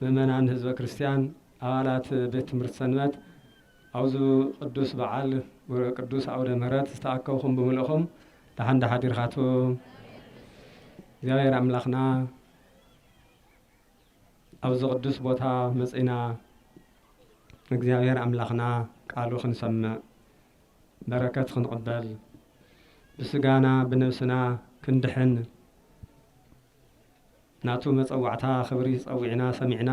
ምእመናን ህዝበ ክርስቲያን ኣባላት ቤት ትምህርቲ ሰንበት ኣብዚ ቅዱስ በዓል ቅዱስ ኣውደ ምህረት ዝተኣከብኹም ብምልእኹም ደሓን ዳሓዲርካቱ እግዚኣብሔር ኣምላኽና ኣብዚ ቅዱስ ቦታ መፅእና እግዚኣብሔር ኣምላኽና ቃሉ ክንሰምዕ በረከት ክንቕበል ብስጋና ብነብስና ክንድሕን ናቱ መጸዋዕታ ክብሪ ጸዊዕና ሰሚዕና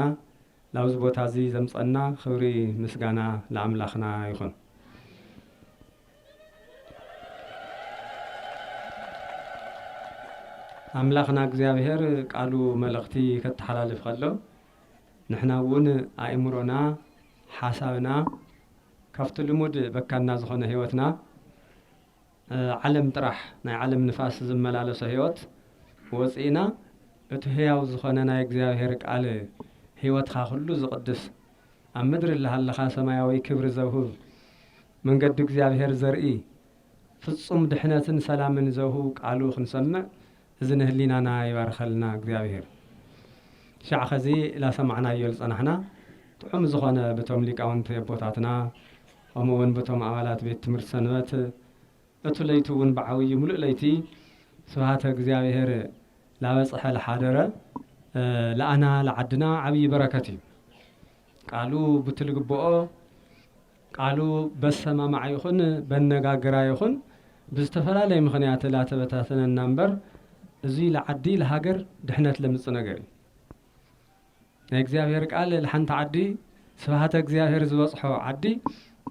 ላብዚ ቦታ እዚ ዘምጸና ክብሪ ምስጋና ልኣምላክና ይኩን። ኣምላክና እግዚኣብሔር ቃሉ መልእክቲ ከተሓላልፍ ከሎ ንሕና እውን ኣእምሮና ሓሳብና ካብቲ ልሙድ በካና ዝኮነ ህይወትና ዓለም ጥራሕ ናይ ዓለም ንፋስ ዝመላለሶ ሕይወት ወፂእና እቲ ሕያው ዝኾነ ናይ እግዚኣብሔር ቃል ሕይወትኻ ኩሉ ዝቕድስ ኣብ ምድሪ እላሃለኻ ሰማያዊ ክብሪ ዘውህብ መንገዲ እግዚኣብሔር ዘርኢ ፍፁም ድሕነትን ሰላምን ዘውህብ ቃሉ ክንሰምዕ እዚ ንህሊናና ይባርኸልና እግዚኣብሄር። ሻዕ ኸዚ ላሰማዕናዮ ልጸናሕና ጥዑም ዝኾነ ብቶም ሊቃውንቲ ኣቦታትና ኸምኡ ውን ብቶም ኣባላት ቤት ትምህርቲ ሰንበት እቱ ለይቲ ውን ብዓውዪ ምሉእ ለይቲ ስብሃተ እግዚኣብሄር ላበጽሐ ልሓደረ ልኣና ልዓድና ዓብዪ በረከት እዩ ቃሉ ቡቲ ልግብኦ ቃሉ በሰማማዕ ይኹን በነጋግራ ይኹን ብዝተፈላለየ ምኽንያት ላተበታተነና እምበር እዙይ ልዓዲ ልሃገር ድሕነት ለምፅእ ነገር እዩ። ናይ እግዚኣብሔር ቃል ልሓንቲ ዓዲ ስብሃተ እግዚኣብሔር ዝበፅሖ ዓዲ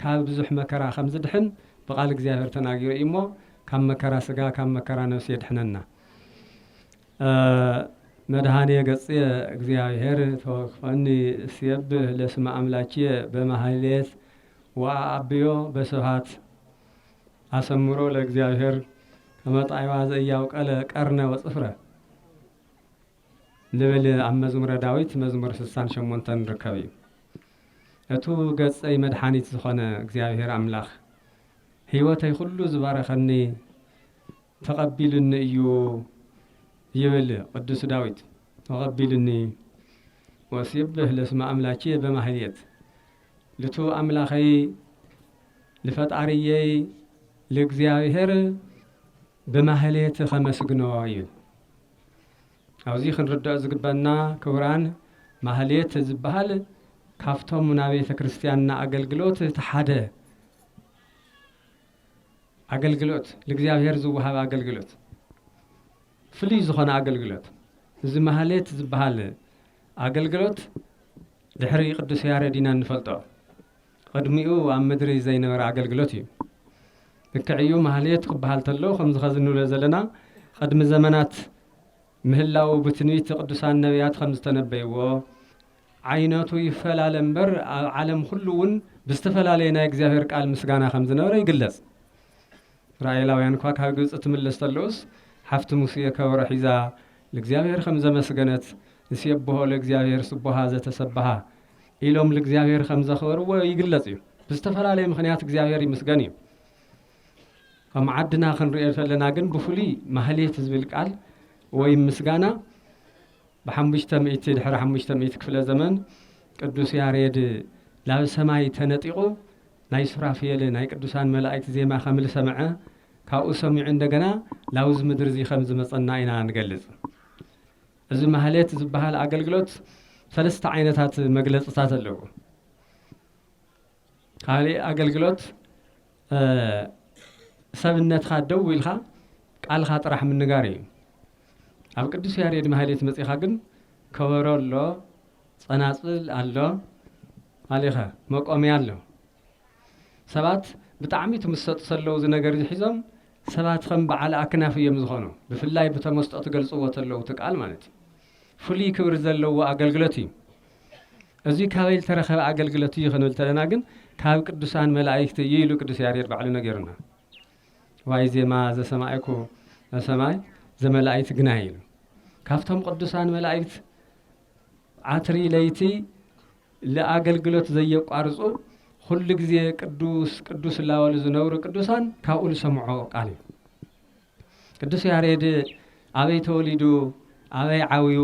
ካብ ብዙሕ መከራ ከምዝድሕን ብቃል እግዚኣብሔር ተናጊሩ እዩ እሞ ካብ መከራ ስጋ ካብ መከራ ነብሲ የድሕነና። መድኃኔ ገጽየ እግዚኣብሔር ተወክፈኒ እስየብህ ለስመ አምላኪየ በማህሌት ወአዐብዮ በስብሐት አሰምሮ ለእግዚኣብሔር ከመ ጣዕዋ ዘኢያውቀለ ቀርነ ወጽፍረ ልብል ኣብ መዝሙረ ዳዊት መዝሙር ስሳን ሸሞንተን ርከብ እዩ። እቱ ገጸይ መድሓኒት ዝኾነ እግዚኣብሔር ኣምላኽ ህይወተይ ኹሉ ዝባረኸኒ ተቐቢሉኒ እዩ ይብል ቅዱስ ዳዊት ተቐቢሉኒ ወእሴብህ ለስመ ኣምላኬ በማህሌት ልቱ ኣምላኸይ ልፈጣርየይ ልእግዚኣብሔር ብማህሌት ኸመስግኖ ይብል ኣብዚ ክንርድኦ ዝግበና ክቡራን ማህሌት ዝበሃል ካብቶም ናቤተ ክርስቲያንና ኣገልግሎት ተሓደ ኣገልግሎት ልእግዚኣብሔር ዝወሃብ ኣገልግሎት ፍልይ ዝኾነ ኣገልግሎት እዚ ማህሌት ዝበሃል ኣገልግሎት ድሕሪ ቅዱስ ያሬድ ኢና እንፈልጦ ቕድሚኡ ኣብ ምድሪ ዘይነበረ ኣገልግሎት እዩ ልክዕ እዩ ማህሌት ክበሃል ተሎ ከምዚ ኸዚ ንብሎ ዘለና ቕድሚ ዘመናት ምህላው ብትንቢት ቅዱሳን ነቢያት ከም ዝተነበይዎ ዓይነቱ ይፈላለ እምበር ኣብ ዓለም ኹሉ እውን ብዝተፈላለየ ናይ እግዚኣብሔር ቃል ምስጋና ከም ዝነበረ ይግለጽ። እስራኤላውያን እኳ ካብ ግብፂ ትምለስ ተለውስ ሓፍቲ ሙሴ ከበሮ ሒዛ ልእግዚኣብሔር ከም ዘመስገነት ንሴብሖ ለእግዚኣብሔር ስቡሃ ዘተሰብሃ ኢሎም ልእግዚኣብሔር ከም ዘኽበርዎ ይግለጽ እዩ። ብዝተፈላለየ ምክንያት እግዚኣብሔር ይምስገን እዩ። ኣብ ዓድና ክንሪኦ ዘለና ግን ብፍሉይ ማህሌት ዝብል ቃል ወይም ምስጋና ብሓሙሽተ ሚእቲ ድሕሪ ሓሙሽተ ሚእቲ ክፍለ ዘመን ቅዱስ ያሬድ ናብ ሰማይ ተነጢቑ ናይ ሱራፍየል ናይ ቅዱሳን መላኢክት ዜማ ከምልሰምዐ ካብኡ ሰሚዑ እንደገና ናብዚ ምድሪ እዚ ከምዝመጸና ኢና ንገልጽ። እዚ ማህሌት ዝበሃል ኣገልግሎት ሰለስተ ዓይነታት መግለጽታት ኣለዎ። ካሊእ ኣገልግሎት ሰብነትካ ደው ኢልካ ቃልካ ጥራሕ ምንጋር እዩ። ኣብ ቅዱስ ያሬድ ማህሌት መጺኻ ግን ከበሮ ኣሎ፣ ጸናጽል ኣሎ፣ ኣሊኸ መቆምያ ኣሎ። ሰባት ብጣዕሚ ትምሰጡ ሰለዉ እዚ ነገር እዚ ሒዞም ሰባት ከም በዓል ኣክናፍ እዮም ዝኾኑ። ብፍላይ ብተመስጦ ትገልጽዎ ተለዉ እቲ ቃል ማለት እዩ። ፍሉይ ክብሪ ዘለዎ ኣገልግሎት እዩ። እዚ ካበይ ዝተረኸበ ኣገልግሎት እዩ ክንብል ተለና ግን ካብ ቅዱሳን መላእክቲ እዩ ኢሉ ቅዱስ ያሬድ ባዕሉ ነገሩና። ዋይ ዜማ ዘሰማይኩ ሰማይ ዘመላእክት ግና ኢሉ ካብቶም ቅዱሳን መላእክት ዓትሪ ለይቲ ለኣገልግሎት ዘየቋርፁ ኩሉ ግዜ ቅዱስ ቅዱስ እላበሉ ዝነብሩ ቅዱሳን ካብኡ ዝሰምዖ ቃል እዩ። ቅዱስ ያሬድ ኣበይ ተወሊዱ ኣበይ ዓብዩ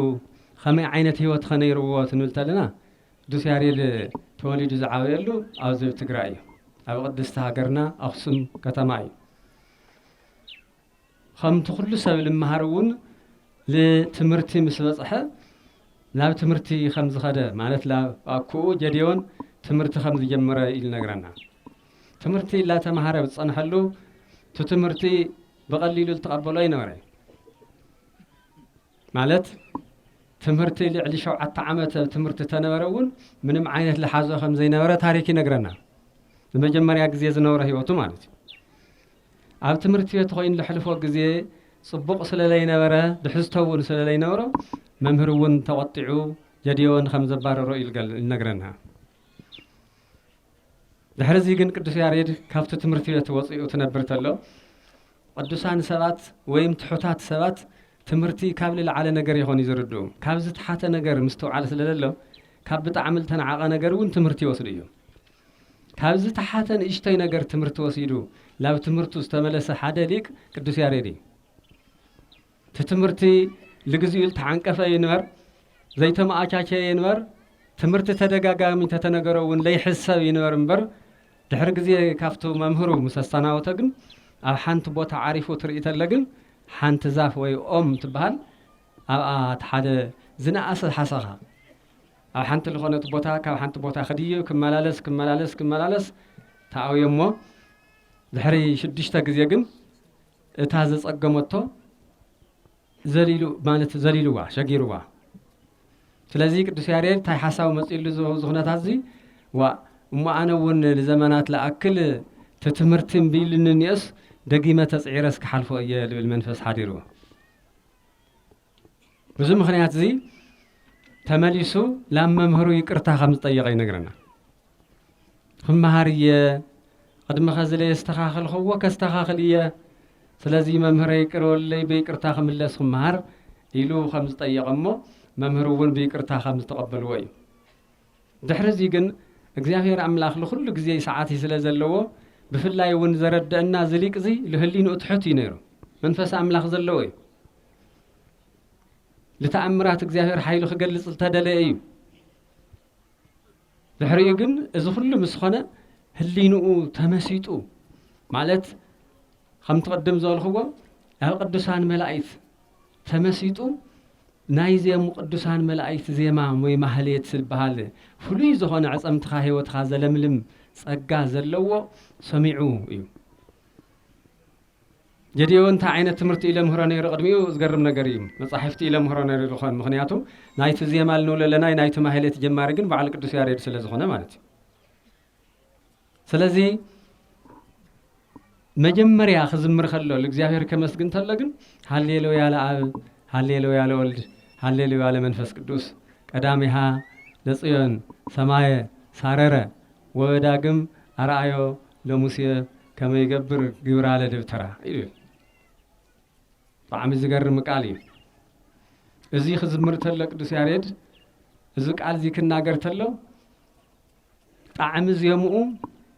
ኸመይ ዓይነት ህይወት ኸ ነይርዎ ትንብል ተለና ቅዱስ ያሬድ ተወሊዱ ዝዓበየሉ ኣብዚ ኣብ ትግራይ እዩ ኣብ ቅድስቲ ሃገርና ኣክሱም ከተማ እዩ ከምቲ ኩሉ ሰብ ልምሃር እውን ልትምህርቲ ምስ በፅሐ ናብ ትምህርቲ ከም ዝኸደ ማለት ላብ ኣኩኡ ጀዴዎን ትምህርቲ ከም ዝጀመረ እዩ ልነግረና ትምህርቲ እላተምሃረ ብዝጸንሐሉ እቲ ትምህርቲ ብቐሊሉ ልትቐበሎ ኣይነበረይ። ማለት ትምህርቲ ልዕሊ ሸውዓተ ዓመት ትምህርቲ ተነበረ እውን ምንም ዓይነት ልሓዞ ከም ዘይነበረ ታሪክ ይነግረና። ንመጀመርያ ግዜ ዝነበረ ህይወቱ ማለት እዩ። ኣብ ትምህርቲ ቤት ኮይኑ ልሕልፎ ግዜ ጽቡቕ ስለ ለይነበረ ድሕዝቶ እውን ስለ ለይነበሮ መምህር እውን ተቖጢዑ ጀድዮን ከም ዘባረሮ እዩ ይነግረና። ድሕርዚ ግን ቅዱስ ያሬድ ካብቲ ትምህርቲ ቤት ወጺኡ ትነብር ተሎ ቅዱሳን ሰባት ወይም ትሑታት ሰባት ትምህርቲ ካብ ልልዓለ ነገር የኾንዩ ዝርድኡ ካብ ዝተሓተ ነገር ምስትውዓል ስለ ለሎ ካብ ብጣዕሚ ልተናዓቐ ነገር እውን ትምህርቲ ይወስዱ እዩ ካብ ዝተሓተ ንእሽቶይ ነገር ትምህርቲ ወሲዱ ላብ ትምህርቱ ዝተመለሰ ሓደ ሊቅ ቅዱስ ያሬድ እዩ እቲ ትምህርቲ ልግዚኡ ልተዓንቀፈ ይንበር ዘይተመኣቻቸየ ይንበር ትምህርቲ ተደጋጋሚ እንተተነገሮ እውን ለይሕሰብ ይንበር እምበር ድሕሪ ግዜ ካብቱ መምህሩ ምስ ኣሰናወቶ ግን ኣብ ሓንቲ ቦታ ዓሪፉ ትርኢ ተለ ግን ሓንቲ ዛፍ ወይ ኦም ትበሃል ኣብኣ እቲ ሓደ ዝነኣሰ ሓሰኻ ኣብ ሓንቲ ልኾነት ቦታ ካብ ሓንቲ ቦታ ክድዩ ክመላለስ ክመላለስ ክመላለስ ተኣውዮ እሞ ድሕሪ ሽዱሽተ ግዜ ግን እታ ዘጸገመቶ ዘሊሉ ማለት ዘሊሉዋ ሸጊሩዋ ስለዚ ቅዱስ ያሬድ እንታይ ሓሳብ መጺሉ እዚ ኩነታት እዚ ዋእ እሞ ኣነ እውን ንዘመናት ልኣክል እቲ ትምህርቲ እምቢ ኢሉኒ እኒኦስ ደጊመ ተጽዒረስ ክሓልፎ እየ ልብል መንፈስ ሓዲሩ ብዚ ምኽንያት እዚ ተመሊሱ ናብ መምህሩ ይቅርታ ከም ዝጠየቐ ይነግረና። ክመሃር እየ ቅድሚ ከዚ ለየስተኻኸልክዎ ከስተኻኽል እየ ስለዚ መምህረ ይቅር በለለይ ብይቅርታ ክምለስ ክመሃር ኢሉ ከም ዝጠየቐ እሞ መምህር እውን ብይቅርታ ከም ዝተቐበልዎ እዩ ድሕሪ እዚ ግን እግዚኣብሔር ኣምላኽ ንኩሉ ግዜ ሰዓት ስለ ዘለዎ ብፍላይ እውን ዘረድአና ዝሊቅ እዚ ልህሊንኡ ትሑት እዩ ነይሩ መንፈስ ኣምላኽ ዘለዎ እዩ ልተኣምራት እግዚኣብሔር ሓይሉ ክገልጽ ዝተደለ እዩ ድሕሪኡ ግን እዚ ኩሉ ምስ ኾነ ህሊንኡ ተመሲጡ ማለት ከምቲ ቅድም ዝበልክዎ ኣብ ቅዱሳን መላእክት ተመሲጡ ናይ ዜም ቅዱሳን መላእክት ዜማ ወይ ማህሌት ዝበሃል ፍሉይ ዝኾነ ዕፀምትኻ ህይወትኻ ዘለምልም ጸጋ ዘለዎ ሰሚዑ እዩ ጌዴዎን እንታይ ዓይነት ትምህርቲ እዩ ለምህሮ ነይሩ ቅድሚኡ ዝገርም ነገር እዩ መጻሕፍቲ እዩ ለምህሮ ነይሩ ዝኾን ምክንያቱ ናይቲ ዜማ ልንብሎ ኣለና ናይቲ ማህሌት ጀማሪ ግን በዓል ቅዱስ ያሬድ ስለ ዝኾነ ማለት እዩ ስለዚ መጀመርያ ክዝምር ከሎ ንእግዚኣብሔር ከመስግን ተሎ ግን ሃሌሉያ ለኣብ ሃሌሉያ ለወልድ ሃሌሉያ ለመንፈስ ቅዱስ ቀዳሚሃ ለጽዮን ሰማየ ሳረረ ወዳግም ኣርኣዮ ለሙሴ ከመይ ይገብር ግብራለ ደብተራ ይብል። ብጣዕሚ ዝገርም ቃል እዩ። እዚ ክዝምር ተሎ ቅዱስ ያሬድ እዚ ቃል እዚ ክናገር ተሎ ጣዕሚ ዜምኡ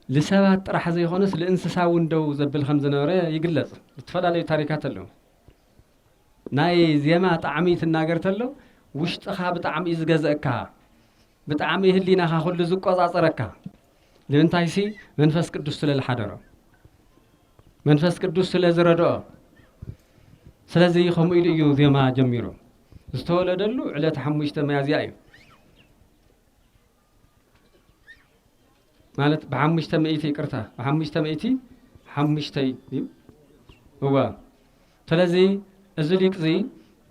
ልሰባት ጥራሕ ዘይኮነስ ልእንስሳ እውን ደው ዘብል ከም ዝነበረ ይግለጽ። ዝተፈላለዩ ታሪካት ኣለዉ። ናይ ዜማ ጣዕሚ ትናገር ተሎ ውሽጥኻ ብጣዕሚ እዩ ዝገዘእካ። ብጣዕሚ ህሊናኻ ኩሉ ዝቆጻጸረካ ንምንታይሲ መንፈስ ቅዱስ ስለ ዝሓደሮ መንፈስ ቅዱስ ስለ ዝረድኦ ስለዚ ከምኡ ኢሉ እዩ ዜማ ጀሚሩ ዝተወለደሉ ዕለት ሓሙሽተ መያዝያ እዩ ማለት ብሓሙሽተ ሚእቲ ይቅርታ ብሓሙሽተ ሚእቲ ሓሙሽተይ እዩ እወ ስለዚ እዚ ሊቅ እዚ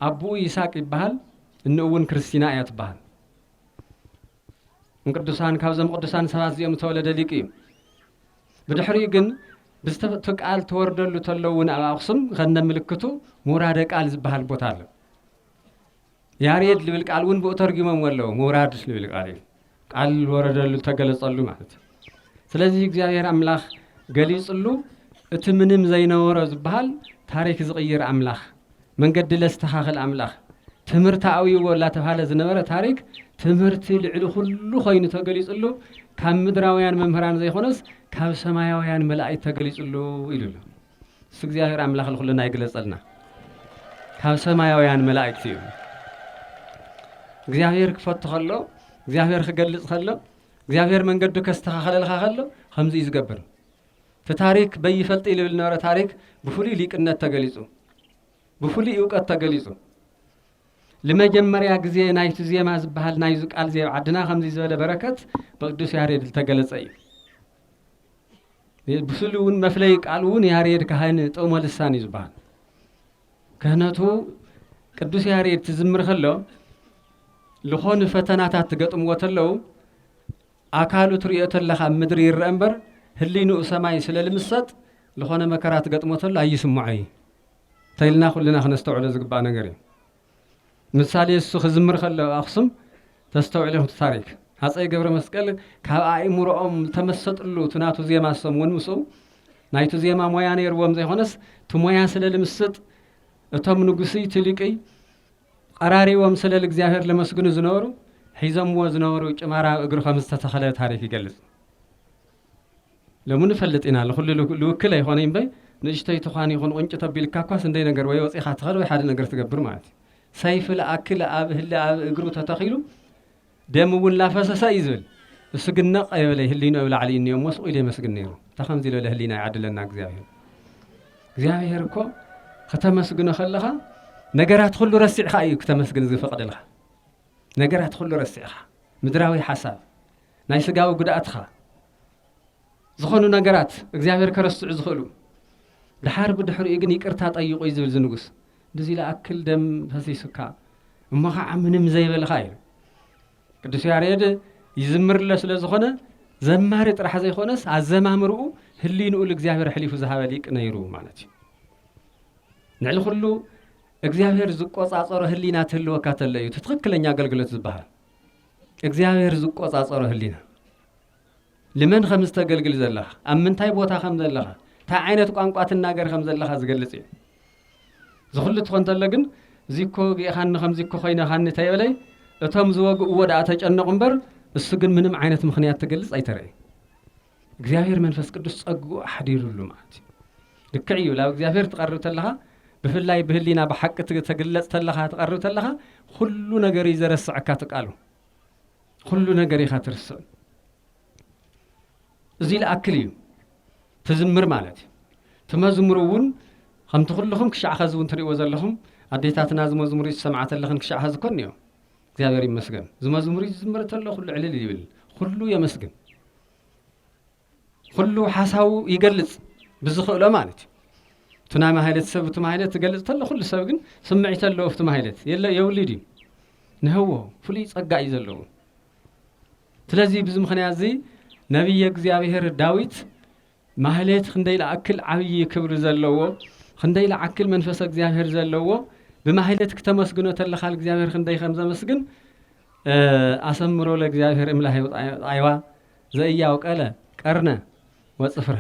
ኣቦኡ ይስቅ ይበሃል እንእውን ክርስቲና እያ ትበሃል ቅዱሳን ካብዞም ቅዱሳን ሰባት እዚኦም ዝተወለደ ሊቅ እዩ። ብድሕሪኡ ግን ብዝተፈቱ ቃል ተወርደሉ ተለው እውን ኣብ ኣኽሱም ከነ ምልክቱ ምውራደ ቃል ዝበሃል ቦታ ኣሎ። ያሬድ ልብል ቃል እውን ብኡ ተርጊሞም ኣለዉ። ምውራድ ልብል ቃል እዩ። ቃል ወረደሉ ተገለጸሉ ማለት እዩ። ስለዚ እግዚኣብሔር ኣምላኽ ገሊጽሉ እቲ ምንም ዘይነበሮ ዝበሃል ታሪክ ዝቕይር ኣምላኽ መንገዲ ለስተኻኽል ኣምላኽ ትምህርቲ ኣውይዎ እናተብሃለ ዝነበረ ታሪክ ትምህርቲ ልዕሊ ኩሉ ኮይኑ ተገሊጽሉ ካብ ምድራውያን መምህራን ዘይኮነስ ካብ ሰማያውያን መላእክት ተገሊጽሉ ኢሉ ኣሎ እሱ እግዚኣብሔር ኣምላኽ ንኩልና ይግለጸልና ካብ ሰማያውያን መላእክት እዩ እግዚኣብሔር ክፈቱ ከሎ እግዚኣብሔር ክገልጽ ከሎ እግዚኣብሔር መንገዱ ከስተኻኸለልኻ ከሎ ከምዚ እዩ ዝገብር እቲ ታሪክ በይፈልጥ ኢልብል ዝነበረ ታሪክ ብፍሉይ ሊቅነት ተገሊፁ ብፍሉይ እውቀት ተገሊፁ ንመጀመርያ ግዜ ናይቲ ዜማ ዝበሃል ናይዚ ቃል ዜ ዓድና ከምዚ ዝበለ በረከት ብቅዱስ ያሬድ ዝተገለጸ እዩ ብስሉ እውን መፍለይ ቃል እውን ያሬድ ካህን ጥቅሞ ልሳን እዩ ዝበሃል ክህነቱ ቅዱስ ያሬድ ትዝምር ከሎ ልኾኑ ፈተናታት ትገጥምዎ ተለው ኣካሉ ትሪኦ ተለኻ ኣብ ምድሪ ይረአ እምበር ህሊንኡ ሰማይ ስለ ልምሰጥ ልኾነ መከራ ትገጥሞ ተሎ ኣይስምዖ እዩ ተይልና ኩልና ክነስተውዕሎ ዝግባእ ነገር እዩ። ምሳሌ እሱ ክዝምር ከሎ ኣብ ኣክሱም ተስተውዕል ኢኹም እቲ ታሪክ ሃጸይ ገብረመስቀል ካብ ኣእምሮኦም ዝተመሰጥሉ እቲ ናቱ ዜማ እሶም እውን ምስኡ ናይቱ ዜማ ሞያ ነይርዎም ዘይኾነስ እቲ ሞያ ስለ ልምስጥ እቶም ንጉስይ እቲ ሊቅይ ቐራሪቦም ስለ ልእግዚኣብሔር ለመስግኑ ዝነበሩ ሒዞምዎ ዝነበሩ ጭማራ ኣብ እግሩ ከም ዝተተኸለ ታሪክ ይገልጽ። ሎሚ ንፈልጥ ኢና ንኹሉ ልውክል ኣይኾነይ እምበይ ንእሽቶይ ትዃን ይኹን ቁንጭ ተቢልካ እኳ ስንደይ ነገር ወይ ወፂኻ ትኸድ ወይ ሓደ ነገር ትገብር ማለት እዩ ሰይፊ ልኣክል ኣብ ህሊ ኣብ እግሩ ተተኺሉ ደም እውን ላፈሰሰ እዩ ዝብል እሱ ግን ነቕ የበለ ህሊኑ ኣብ ላዕሊ እኒኦ እሞ ስቑ ኢሉ የመስግን ነይሩ እንተ ከምዚ ዝበለ ህሊና ይዓድለና እግዚኣብሄር እግዚኣብሄር እኮ ከተመስግኖ ከለኻ ነገራት ኩሉ ረሲዕኻ እዩ ክተመስግን ዝፈቕደልኻ ነገራት ኩሉ ረሲዕኻ ምድራዊ ሓሳብ ናይ ስጋዊ ጉድኣትኻ ዝኾኑ ነገራት እግዚኣብሔር ከረስዑ ዝኽእሉ ድሓር ብድሕሪኡ ግን ይቅርታ ጠይቁ እዩ ዝብል ዝንጉስ ብዚ ለኣክል ደም ፈሲሱካ እሞ ከዓ ምንም ዘይበልኻ እዩ ቅዱስ ያሬድ ይዝምርለ ስለ ዝኾነ ዘማሪ ጥራሕ ዘይኮነስ ኣዘማምርኡ ህሊንኡ ልእግዚኣብሔር ሕሊፉ ዝሃበ ሊቅ ነይሩ ማለት እዩ ንዕሊ ኩሉ እግዚኣብሔር ዝቆፃፀሮ ህሊና ትህልወካ ተለ እዩ ትክክለኛ ኣገልግሎት ዝበሃል እግዚኣብሔር ዝቆጻጸሮ ህሊና ልመን ከም ዝተገልግል ዘለኻ ኣብ ምንታይ ቦታ ከም ዘለኻ እንታይ ዓይነት ቋንቋ ትናገር ከም ዘለኻ ዝገልጽ እዩ ዝኹሉ ትኾን ተሎ ግን እዚኮ ጌኻኒ ከምዚኮ ኮይነኻኒ ተየበለይ እቶም ዝወግእዎ ደኣ ተጨነቑ እምበር እሱ ግን ምንም ዓይነት ምኽንያት ትገልጽ ኣይተረእዩ እግዚኣብሔር መንፈስ ቅዱስ ጸግኡ ኣሕዲሩሉ ማለት እዩ ልክዕ እዩ ናብ እግዚኣብሔር ትቐርብ ተለኻ ብፍላይ ብህሊና ብሓቂ ተግለጽ ተለኻ ትቐርብ ተለኻ ኩሉ ነገር እዩ ዘረስዐካ ትቃሉ ኩሉ ነገር ኢኻ ትርስዕ እዚ ልኣክል እዩ ትዝምር ማለት እዩ ትመዝሙር እውን ከምቲ ኩልኹም ክሻዕ ኸዚ እውን ትሪእዎ ዘለኹም ኣዴታትና ዝመዝሙር እዩ ዝሰምዓ ተለኽን ክሻዕ ኸዚ ኮን እዮም እግዚኣብሔር ይመስገን ዝመዝሙሪ ዝዝምር ተሎ ኩሉ ዕልል ይብል ኩሉ የመስግን ኩሉ ሓሳቡ ይገልጽ ብዝኽእሎ ማለት እዩ እቲ ናይ ማህለት ሰብ እቲ ማህለት ትገልጽ ተሎ ኩሉ ሰብ ግን ስምዒት ኣለዎ ኣብቲ ማህለት የለ የብሉ ድዩ ንህዎ ፍሉይ ጸጋ እዩ ዘለዎ ስለዚ ብዚ ምክንያት እዚ ነቢየ እግዚኣብሔር ዳዊት ማህሌት ኽንደይ ልኣክል ዓብዪ ክብሪ ዘለዎ ኽንደይ ልኣክል መንፈሰ እግዚኣብሔር ዘለዎ ብማህሌት ክተመስግኖ ተለኻ ልእግዚኣብሔር ኽንደይ ከም ዘመስግን ኣሰምሮ ለእግዚኣብሔር እምላሄ ጣይዋ ዘእያው ቀለ ቀርነ ወጽፍረ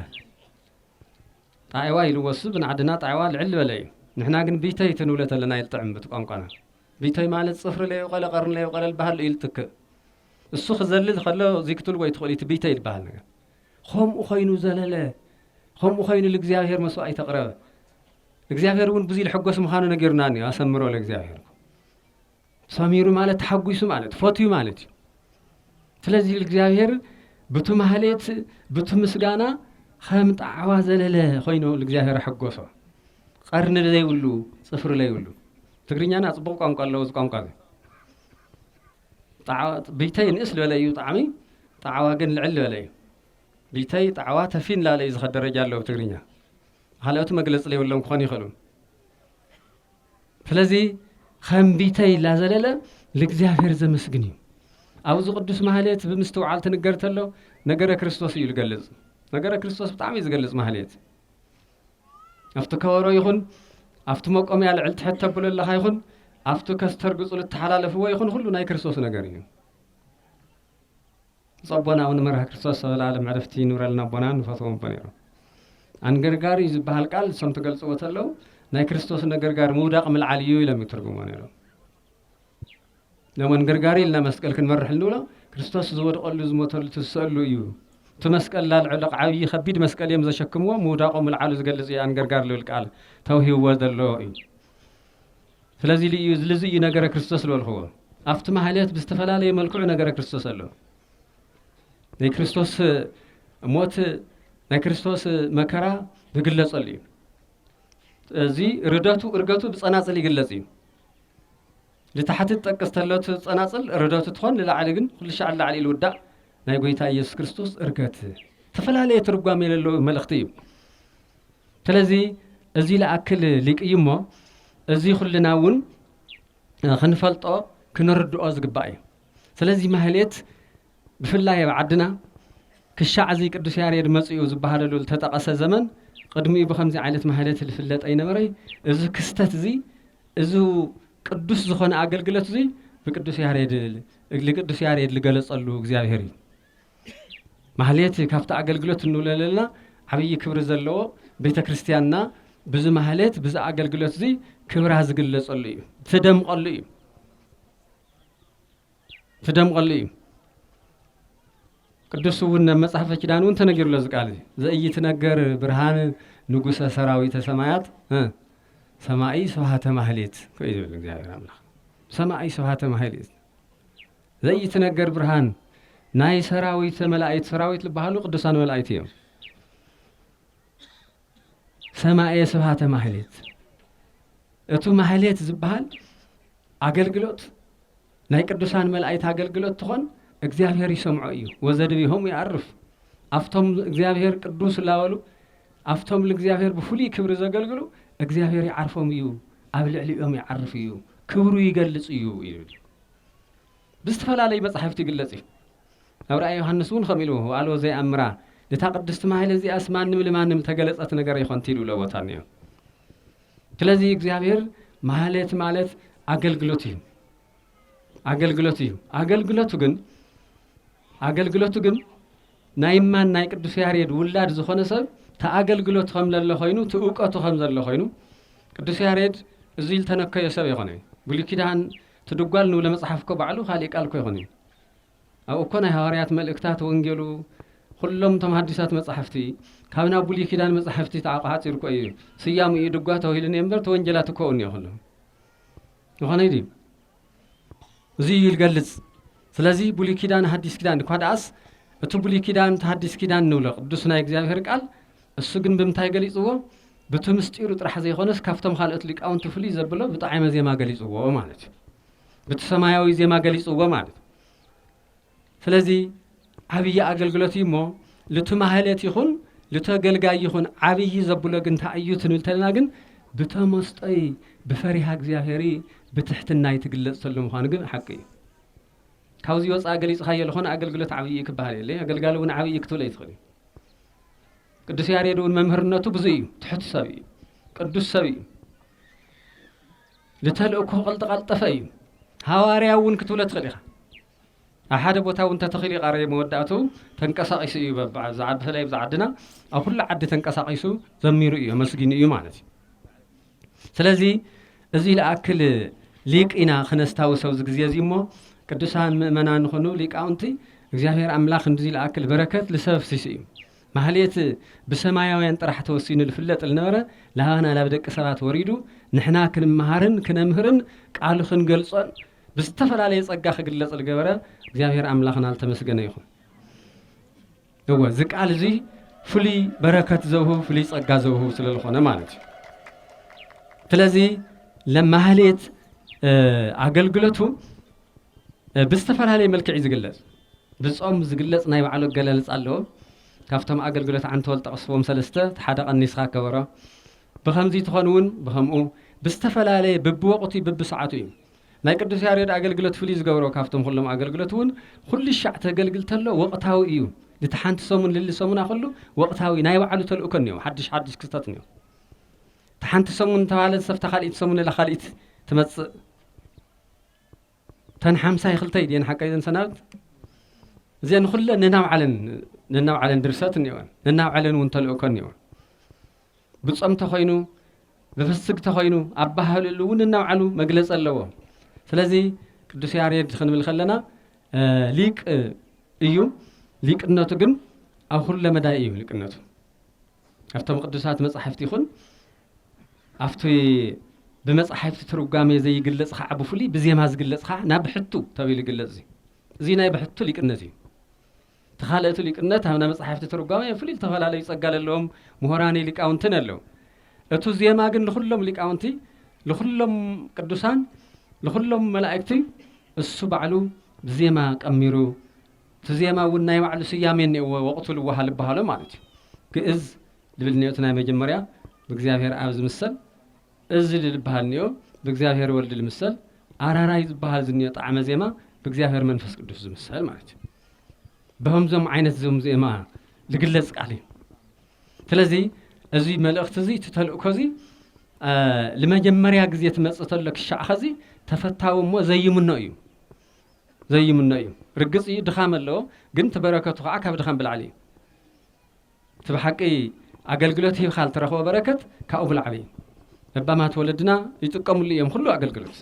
ጣይዋ ኢልዎ እሱ ብንዓድና ጣይዋ ልዕል በለ እዩ ንሕና ግን ቢተይ ትንብለ ተለና ይልጥዕም ብቲ ቋንቋና ቢተይ ማለት ጽፍሪ ለይቀለ ቀርን ለይቀለ ልበሃል እዩ ልትክእ እሱ ክዘልል ከሎ ዚክትልዎ ይትኽእል እቲ ቢተይ ልበሃል ነገር ኸምኡ ኸይኑ ዘለለ፣ ኸምኡ ኸይኑ ልእግዚኣብሔር መሥዋዕት ኣቕረበ። እግዚኣብሔር እውን ብዙይ ልሕጎስ ምዃኑ ነጊሩና እኒ ኣሰምሮ ለእግዚኣብሔር ሰሚሩ ማለት ተሓጒሱ ማለት ፈትዩ ማለት እዩ። ስለዚህ ልእግዚኣብሔር ብቱ ማህሌት ብቱ ምስጋና ከም ጣዕዋ ዘለለ ኮይኑ እግዚኣብሔር ኣሐጎሶ ቀርኒ ዘይብሉ ፅፍሪ ዘይብሉ ትግርኛና ፅቡቅ ቋንቋ ኣለዎ እዚ ቋንቋ እዚ ጣዕዋ ብይተይ ንእስ ልበለ እዩ ጣዕሚ ጣዕዋ ግን ልዕል ልበለ እዩ ብይተይ ጣዕዋ ተፊን ላለ እዩ ዝኸድ ደረጃ ኣለዎ ብትግርኛ ካልኦት መግለፂ ለይብሎም ክኾኑ ይኽእሉ ስለዚ ከም ብይተይ ላዘለለ ልእግዚኣብሔር ዘመስግን እዩ ኣብዚ ቅዱስ ማህሌት ብምስትውዓል ትንገር ተሎ ነገረ ክርስቶስ እዩ ዝገልጽ ነገረ ክርስቶስ ብጣዕሚ እዩ ዝገልጽ ማህሌት ኣብቲ ከበሮ ይኹን ኣብቲ መቆምያ ልዕል ትሕት ተብሎ ኣለኻ ይኹን ኣብቲ ከስተርግጹ ልተሓላለፍዎ ይኹን ኹሉ ናይ ክርስቶስ ነገር እዩ። ጸቦና እውን መርሃ ክርስቶስ ሰበላለም ዕረፍቲ ይኑረልና ኣቦና ንፈትዎም ኣቦ ነይሮም። ኣንገርጋሪ ዝበሃል ቃል እሶም ትገልጽዎ ተለው ናይ ክርስቶስ ነገርጋር ምውዳቕ ምልዓል እዩ ኢሎም ይትርጉሞ ነይሮም። ለመንገርጋሪ ኢልና መስቀል ክንመርሕ እንብሎ ክርስቶስ ዝወድቐሉ ዝሞተሉ ትዝሰሉ እዩ እቲ መስቀል ላልዕልቕ ዓብዪ ከቢድ መስቀል እዮም ዘሸክምዎ ምውዳቆ ምልዓሉ ዝገልጽ እዩ ኣንገርጋር ልብል ቃል ተውሂብዎ ዘሎ እዩ ስለዚ ልዩ ልዚ እዩ ነገረ ክርስቶስ ዝበልክዎ ኣብቲ ማህለት ብዝተፈላለየ መልክዑ ነገረ ክርስቶስ ኣሎ ናይ ክርስቶስ ሞት ናይ ክርስቶስ መከራ ዝግለጸሉ እዩ እዚ ርደቱ እርገቱ ብጸናጽል ይግለጽ እዩ ልታሕቲ ትጠቅስ ተለቱ ጸናጽል ርደቱ ትኾን ልላዕሊ ግን ኩልሻዕ ልላዕሊ ልውዳእ ናይ ጎይታ ኢየሱስ ክርስቶስ እርገት ተፈላለየ ትርጓሜ ለለዎ መልእኽቲ እዩ ስለዚ እዚ ልኣክል ሊቅ እዩ እሞ እዚ ኩልና እውን ክንፈልጦ ክንርድኦ ዝግባእ እዩ ስለዚ ማህሌት ብፍላይ ኣብ ዓድና ክሻዕ እዚ ቅዱስ ያሬድ መጺኡ ዝበሃለሉ ልተጠቐሰ ዘመን ቕድሚኡ ብኸምዚ ዓይነት ማህሌት ልፍለጥ ኣይነበረይ። እዚ ክስተት እዚ እዚ ቅዱስ ዝኾነ ኣገልግሎት እዙይ ብቅዱስ ያሬድ ልቅዱስ ያሬድ ልገለጸሉ እግዚኣብሔር እዩ። ማህሌት ካብቲ ኣገልግሎት እንብለለልና ዓብዪ ክብሪ ዘለዎ ቤተ ክርስቲያንና ብዚ ማህሌት ብዚ ኣገልግሎት እዙይ ክብራ ዝግለጸሉ እዩ። ትደምቐሉ እዩ። ክደምቐሉ እዩ። ቅዱስ እውን ናብ መጽሐፈ ኪዳን እውን ተነጊሩሎ እዚ ቃል ዘኢይትነገር ብርሃን ንጉሰ ሰራዊተ ሰማያት ሰማኢ ስብሃተ ማህሌት እዩ ዝብል እግዚኣብሔር ኣምላኽ ሰማኢ ስብሃተ ማህሌት ዘኢይትነገር ብርሃን ናይ ሰራዊት መላእክት ሰራዊት ዝበሃሉ ቅዱሳን መላእክት እዮም። ሰማኤ ስብሃተ ማህሌት እቱ ማህሌት ዝበሃል ኣገልግሎት ናይ ቅዱሳን መላእክት ኣገልግሎት ትኾን እግዚኣብሔር ይሰምዖ እዩ ወዘድቢሆም ይኣርፍ ኣብቶም እግዚኣብሔር ቅዱስ እላበሉ ኣብቶም ንእግዚኣብሔር ብፍሉይ ክብሪ ዘገልግሉ እግዚኣብሔር ይዓርፎም እዩ ኣብ ልዕሊኦም ይዓርፍ እዩ ክብሩ ይገልፅ እዩ ይብል ብዝትፈላለዩ መጻሕፍት ይግለጽ እዩ። ኣብ ራእይ ዮሃንስ እውን ከምኡ ኢሉ ወኣልቦ ዘይኣምራ ነታ ቅድስቲ ማህል እዚኣስ ማንም ልማንም ተገለጸት ነገር ይኾንቲ ኢሉ ለቦታ እኒኦ። ስለዚ እግዚኣብሔር ማህሌት ማለት ኣገልግሎት እዩ ኣገልግሎት እዩ ኣገልግሎቱ ግን ኣገልግሎቱ ግን ናይ ማን ናይ ቅዱስ ያሬድ ውላድ ዝኾነ ሰብ ተኣገልግሎት ከም ለለ ኮይኑ ትእውቀቱ ከም ዘሎ ኮይኑ ቅዱስ ያሬድ እዙይ ዝተነከዮ ሰብ የኾነ ብሉይ ኪዳን ትድጓል ንብሎ መጽሓፍ እኮ ባዕሉ ካልእ ቃል እኮ ኣይኮነን ኣብኡ እኮ ናይ ሃዋርያት መልእክታት ወንጌሉ ኩሎም እቶም ሃዲሳት መጻሕፍቲ ካብ ናብ ብሉይ ኪዳን መጻሕፍቲ ተዓቋሓጺሩ እኮ እዩ ስያሙ እዩ ድጓ ተባሂሉ እኒኦ እምበር ተወንጀላት እኮ እኒኦ ኩሉ ዝኾነ ድዩ እዚ እዩ ይገልጽ ስለዚ ብሉይ ኪዳን ሃዲስ ኪዳን እኳ ደኣስ እቲ ብሉይ ኪዳን እቲ ሃዲስ ኪዳን ንብሎ ቅዱስ ናይ እግዚኣብሔር ቃል እሱ ግን ብምንታይ ገሊጽዎ ብቲ ምስጢሩ ጥራሕ ዘይኮነስ ካብቶም ካልኦት ሊቃውንቲ ፍልይ ዘብሎ ብጣዕመ ዜማ ገሊጽዎ ማለት እዩ ብቲ ሰማያዊ ዜማ ገሊጽዎ ማለት ስለዚ ዓብዪ ኣገልግሎት እዩ እሞ ልቲ ማህለት ይኹን ልተገልጋይ ይኹን ዓብዪ ዘብሎ ግን እንታይ እዩ ትንብል ተለና ግን ብተመስጦይ ብፈሪሃ እግዚኣብሄር ብትሕትናይ ትግለጽ ተሎ ምዃኑ ግን ሓቂ እዩ ካብዚ ወፃእ ገሊፅካዮ ዝኾነ ኣገልግሎት ዓብዪ እዩ ክበሃል የለ ኣገልጋሊ እውን ዓብዪ ክትብል ኣይትኽእል እዩ ቅዱስ ያሬድ እውን መምህርነቱ ብዙ እዩ ትሑት ሰብ እዩ ቅዱስ ሰብ እዩ ንተልእኩ ቐልጠቐልጠፈ እዩ ሃዋርያ እውን ክትብሎ ትኽእል ኢኻ ኣብ ሓደ ቦታ እውን ተተኺሉ ይቃረ መወዳእቱ ተንቀሳቂሱ እዩ በብዓዛ ብፍላይ ብዛ ዓድና ኣብ ኩሉ ዓዲ ተንቀሳቂሱ ዘሚሩ እዩ ኣመስጊኑ እዩ ማለት እዩ ስለዚ እዚ ልኣክል ሊቅ ኢና ክነስታውሰ ኣብዚ ግዜ እዚ እሞ ቅዱሳን ምእመናን ንኾኑ ሊቃውንቲ እግዚኣብሔር ኣምላኽ እንዚ ልኣክል በረከት ልሰብ ሲሱ እዩ ማህሌት ብሰማያውያን ጥራሕ ተወሲኑ ልፍለጥ ልነበረ ላባና ላብ ደቂ ሰባት ወሪዱ ንሕና ክንመሃርን ክነምህርን ቃሉ ክንገልጾን ብዝተፈላለየ ጸጋ ክግለጽ ልገበረ እግዚኣብሔር ኣምላኽና ልተመስገነ ይኹን። እወ እዚ ቃል እዚ ፍሉይ በረከት ዘውህብ ፍሉይ ጸጋ ዘውህብ ስለ ልኾነ ማለት እዩ። ስለዚ ለማህሌት ኣገልግለቱ ብዝተፈላለየ መልክዕ እዩ ዝግለጽ። ብጾም ዝግለጽ ናይ ባዕሉ ኣገላልጻ ኣለዎ። ካብቶም ኣገልግሎት ዓንተወል ዝጠቐስዎም ሰለስተ እቲ ሓደ ቀኒስኻ ገበሮ። ብኸምዚ ትኾን እውን ብኸምኡ ብዝተፈላለየ ብብወቕቱ ብብሰዓቱ እዩ። ናይ ቅዱስ ያሬድ ኣገልግሎት ፍልይ ዝገብሮ ካብቶም ኩሎም ኣገልግሎት እውን ኩሉ ሻዕ ተገልግል ተሎ ወቕታዊ እዩ። ልቲ ሓንቲ ሰሙን ልሊ ሰሙና ኩሉ ወቕታዊ ናይ ባዕሉ ተልእኮ እኒኦ ሓድሽ ሓድሽ ክስተት እኒኦ እቲ ሓንቲ ሰሙን ተባህለ ዝሰፍታ ካልኢት ሰሙን እላ ካልኢት ትመጽእ እተን ሓምሳይ ክልተይ ድየን ሓቀይ ዘን ሰናብት እዚአን ኩለን ነናብ ዓለን ነናብ ዓለን ድርሰት እኒኦን ነናብ ዓለን እውን ተልእኮ እኒኦን ብጾም ተኮይኑ ብፍስግ ተኮይኑ ኣባህልሉ እውን ነናብ ዓሉ መግለፂ ኣለዎ ስለዚ ቅዱስ ያሬድ ክንብል ከለና ሊቅ እዩ ሊቅነቱ ግን ኣብ ኩለ መዳይ እዩ ሊቅነቱ ኣብቶም ቅዱሳት መጻሕፍቲ ይኹን ኣብቲ ብመጻሕፍቲ ትርጓሜ ዘይግለጽ ኸዓ ብፍሉይ ብዜማ ዝግለጽ ኸዓ ናብ ብሕቱ ተቢሉ ይግለጽ እዙይ እዙይ ናይ ብሕቱ ሊቅነት እዩ እቲ ካልእቱ ሊቅነት ኣብ ናይ መጻሕፍቲ ትርጓሜ ፍሉይ ዝተፈላለዩ ጸጋ ዘለዎም ምሁራኒ ሊቃውንትን ኣለዉ እቱ ዜማ ግን ንኹሎም ሊቃውንቲ ንኹሎም ቅዱሳን ንኹሎም መላእክቲ እሱ ባዕሉ ብዜማ ቀሚሩ እቲ ዜማ እውን ናይ ባዕሉ ስያሜ እኒእዎ ወቕቱ ልወሃ ልበሃሎ ማለት እዩ ግእዝ ልብል እኒኦ እቲ ናይ መጀመርያ ብእግዚኣብሔር ኣብ ዝምሰል እዚ ልል በሃል እኒኦ ብእግዚኣብሔር ወልድ ልምሰል ኣራራይ ዝበሃል ዝኒኦ ጣዕመ ዜማ ብእግዚኣብሔር መንፈስ ቅዱስ ዝምሰል ማለት እዩ በከምዞም ዓይነት ዞም ዜማ ዝግለጽ ቃል እዩ ስለዚ እዚ መልእኽቲ እዚ እቲ ተልእኮ እዚ ንመጀመርያ ግዜ ትመፅእ ተሎ ክሻዕ ኸዚ ተፈታዊ እሞ ዘይምኖ እዩ ዘይምኖ እዩ ርግፅ እዩ ድኻም ኣለዎ ግን እቲ በረከቱ ከዓ ካብ ድኻም ብላዕሊ እዩ እቲ ብሓቂ ኣገልግሎት ሂብካ ልትረኽቦ በረከት ካብኡ ብላዕሊ እዩ ለባማት ወለድና ይጥቀምሉ እዮም ኩሉ ኣገልግሎት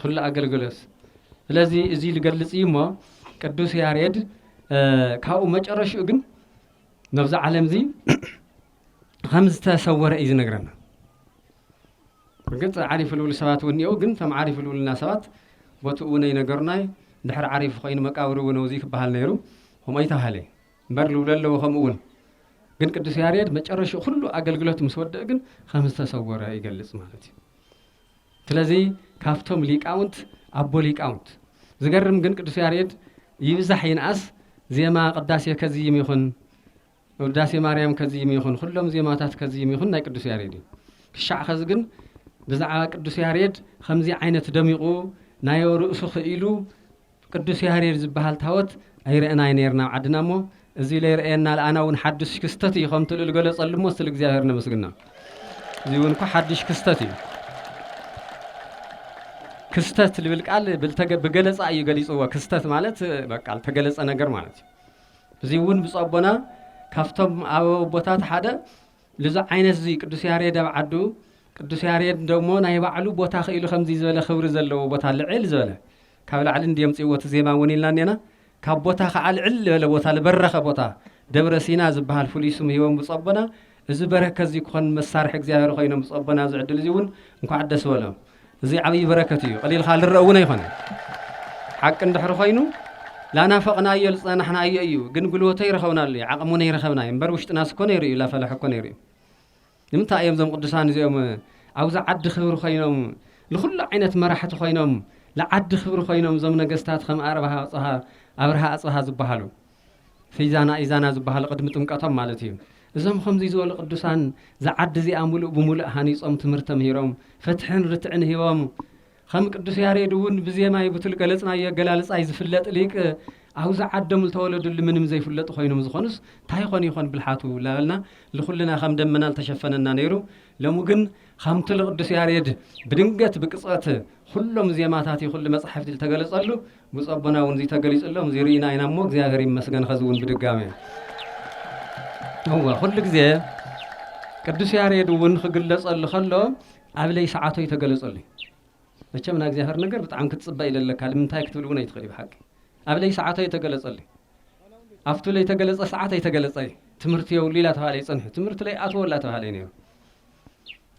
ኩሉ ኣገልግሎት ስለዚ እዚ ልገልጽ እዩ እሞ ቅዱስ ያሬድ ካብኡ መጨረሽኡ ግን ነብዚ ዓለም እዚ ከም ዝተሰወረ እዩ ዝነግረና እርግጥ ዓሪፍ ልውል ሰባት እውን እኒአው ግን እቶም ዓሪፍ ልውልና ሰባት ቦትኡ እውን ኣይነገሩናይ ድሕሪ ዓሪፍ ኮይኑ መቃብር እውን እዚ ክበሃል ነይሩ ከምኡ ኣይተባሃለ እምበር ልብሎ ኣለዎ ከምኡ እውን ግን ቅዱስ ያሬድ መጨረሻ ኩሉ ኣገልግሎት ምስ ወደእ ግን ከም ዝተሰወረ ይገልጽ ማለት እዩ ስለዚ ካብቶም ሊቃውንት ኣቦ ሊቃውንት ዝገርም ግን ቅዱስ ያሬድ ይብዛሕ ይንኣስ ዜማ ቅዳሴ ከዝይም ይኹን ውዳሴ ማርያም ከዝይም ይኹን ኩሎም ዜማታት ከዝይም ይኹን ናይ ቅዱስ ያሬድ እዩ ክሻዕ ከዚ ግን ብዛዕባ ቅዱስ ያሬድ ከምዚ ዓይነት ደሚቑ ናዮ ርእሱ ክኢሉ ቅዱስ ያሬድ ዝበሃል ታወት ኣይረእናይ ነርና ኣብ ዓድና እሞ እዚ ለይረእየና ለኣና ውን ሓዱሽ ክስተት እዩ ከምቲ ልል ገለጸሉ እሞ ስል እግዚኣብሔር ነመስግና እዚ ውን እኮ ሓዱሽ ክስተት እዩ ክስተት ልብል ቃል ብገለፃ እዩ ገሊፅዎ ክስተት ማለት በቃ ተገለፀ ነገር ማለት እዩ እዚ እውን ብፁዕ ኣቦና ካብቶም ኣብ ቦታት ሓደ ልዚ ዓይነት እዚ ቅዱስ ያሬድ ኣብ ዓዱ ቅዱስ ያሬድ ደሞ ናይ ባዕሉ ቦታ ክኢሉ ከምዚ ዝበለ ክብሪ ዘለዎ ቦታ ልዕል ዝበለ ካብ ላዕሊ እንድዩ ኣምጺእዎ እቲ ዜማ እውን ኢልና እኔና። ካብ ቦታ ከዓ ልዕል ልበለ ቦታ ልበረኸ ቦታ ደብረ ሲና ዝበሃል ፍሉይ ስም ሂቦም ብፁዕ ኣቦና። እዚ በረከት እዚ ክኾን መሳርሒ እግዚኣብሔር ኮይኖም ብፁዕ ኣቦና ኣብዚ ዕድል እዚ እውን እንኳዕ ደስ በሎም። እዚ ዓብይ በረከት እዩ ቐሊልካ ልረእ እውን ኣይኮነን። ሓቂ እንድሕሪ ኮይኑ ላናፈቕናዮ ልፀናሕናዮ እዩ ግን ጉልበቱ ኣይረኸብናሉይ ዓቕሙን ኣይረኸብናይ እምበር ውሽጥናስ እኮ ነይሩ እዩ ላፈለሐ እኮ ነይሩ እዩ። ንምንታይ እዮም እዞም ቅዱሳን እዚኦም ኣብዚ ዓዲ ክብሪ ኮይኖም ንኹሉ ዓይነት መራሕቲ ኮይኖም ንዓዲ ክብሪ ኮይኖም እዞም ነገስታት ከም ኣርብሃ ኣጽሃ ኣብርሃ ኣጽብሃ ዝበሃሉ ፊዛና ኢዛና ዝበሃሉ ቅድሚ ጥምቀቶም ማለት እዩ እዞም ከምዚ ዝበሉ ቅዱሳን ዝዓዲ እዚኣ ሙሉእ ብሙሉእ ሃኒጾም ትምህርቲ ተምሂሮም ፍትሕን ርትዕን ሂቦም ኸም ቅዱስ ያሬድ እውን ብዜማይ ብቱል ገለጽናዮ ኣገላልጻይ ዝፍለጥ ሊቅ ኣውዚ ዓዶም ልተወለዱሉ ምንም ዘይፍለጡ ኮይኖም ዝኾኑስ ታይ ይኾን ይኾን ብልሓቱ ላበልና ልኹልና ኸም ደመና ልተሸፈነና ነይሩ ሎሚ ግን ኸምቱ ልቅዱስ ያሬድ ብድንገት ብቅጽበት ኹሎም ዜማታት ይኹሉ መጻሕፍቲ ልተገለጸሉ ብፁዕ ኣቦና እውን እዙይ ተገሊጹሎም እዙይ ርኢና ኢና እሞ እግዚኣብሔር ይመስገን ኸዚ እውን ብድጋሜ እወ ኹሉ ግዜ ቅዱስ ያሬድ እውን ኽግለጸሉ ኸሎ ኣብለይ ሰዓቶ እዩ ተገለጸሉይ መቸም ናእግዚኣብሔር ነገር ብጣዕሚ ክትጽበ ይደለካ ልምንታይ ክትብል እውን ኣይትኽእልይ ብሓቂ ኣብለይ ሰዓቶ እዩ ተገለጸሉይ ኣፍቱ ለይተገለጸ ሰዓት ኣይተገለጸ ትምህርቲ የብሉ ኢላ ተባሃለ ይጸንሑ ትምህርቲ ለይ ኣትዎ ላ ተባሃለ ነይሩ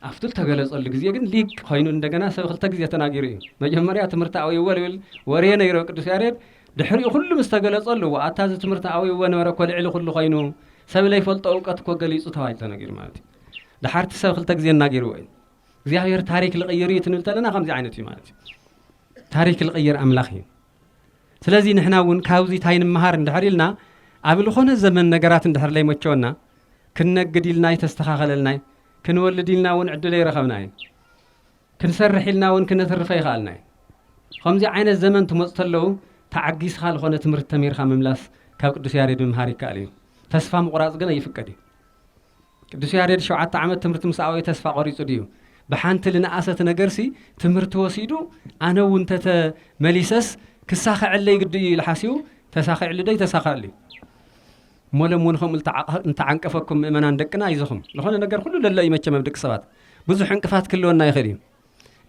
ኣፍቱ ተገለጸሉ ግዜ ግን ሊቅ ኮይኑ እንደገና ሰብ ክልተ ግዜ ተናጊሩ እዩ መጀመርያ ትምህርቲ ኣውይዎ ልብል ወሬ ነይሮ ቅዱስ ያሬድ ድሕሪኡ ኩሉ ምስ ተገለጸሉ ኣታ እዚ ትምህርቲ ኣውይዎ ነበረ እኮ ልዕሊ ኩሉ ኮይኑ ሰብ ለይፈልጦ እውቀት እኮ ገሊጹ ተባሂሉ ተነጊሩ ማለት እዩ ደሓር እቲ ሰብ ክልተ ግዜ እናገይርዎ እዩ እግዚኣብሔር ታሪክ ልቕይር እዩ ትንብል ተለና ከምዚ ዓይነት እዩ ማለት እዩ ታሪክ ልቕይር ኣምላኽ እዩ ስለዚ ንሕና እውን ካብዚ እንታይ ንምሃር እንድሕር ኢልና ኣብ ዝኾነ ዘመን ነገራት እንድሕር ለይመቸወና ክንነግድ ኢልና ይተስተኻኸለልና እዩ ክንወልድ ኢልና እውን ዕድለ ይረኸብና እዩ ክንሰርሕ ኢልና እውን ክነትርፈ ይኸኣልና እዩ ከምዚ ዓይነት ዘመን ትመፁ ተለዉ ተዓጊስኻ ዝኾነ ትምህርቲ ተምሂርካ ምምላስ ካብ ቅዱስ ያሬድ ምምሃር ይከኣል እዩ ተስፋ ምቑራፅ ግን ኣይፍቀድ እዩ ቅዱስ ያሬድ ሸውዓተ ዓመት ትምህርቲ ምስ ኣውኤ ተስፋ ቆሪጹ ድዩ? ብሓንቲ ልንኣሰት ነገርሲ ትምህርቲ ወሲዱ ኣነ እውን ተተ መሊሰስ ክሳኸዐለይ ግዲ እዩ ኢሉ ሓሲቡ ተሳኺዕሉ ዶ ኣይተሳኸዐሉ እዩ? እሞ ሎም እውን ከምኡ ልተዓንቀፈኩም ምእመናን ደቅና ኣይዞኹም ልኾነ ነገር ኩሉ ለሎ እዩ መቸም ኣብ ደቂ ሰባት ብዙሕ ዕንቅፋት ክህልወና ይኽእል እዩ።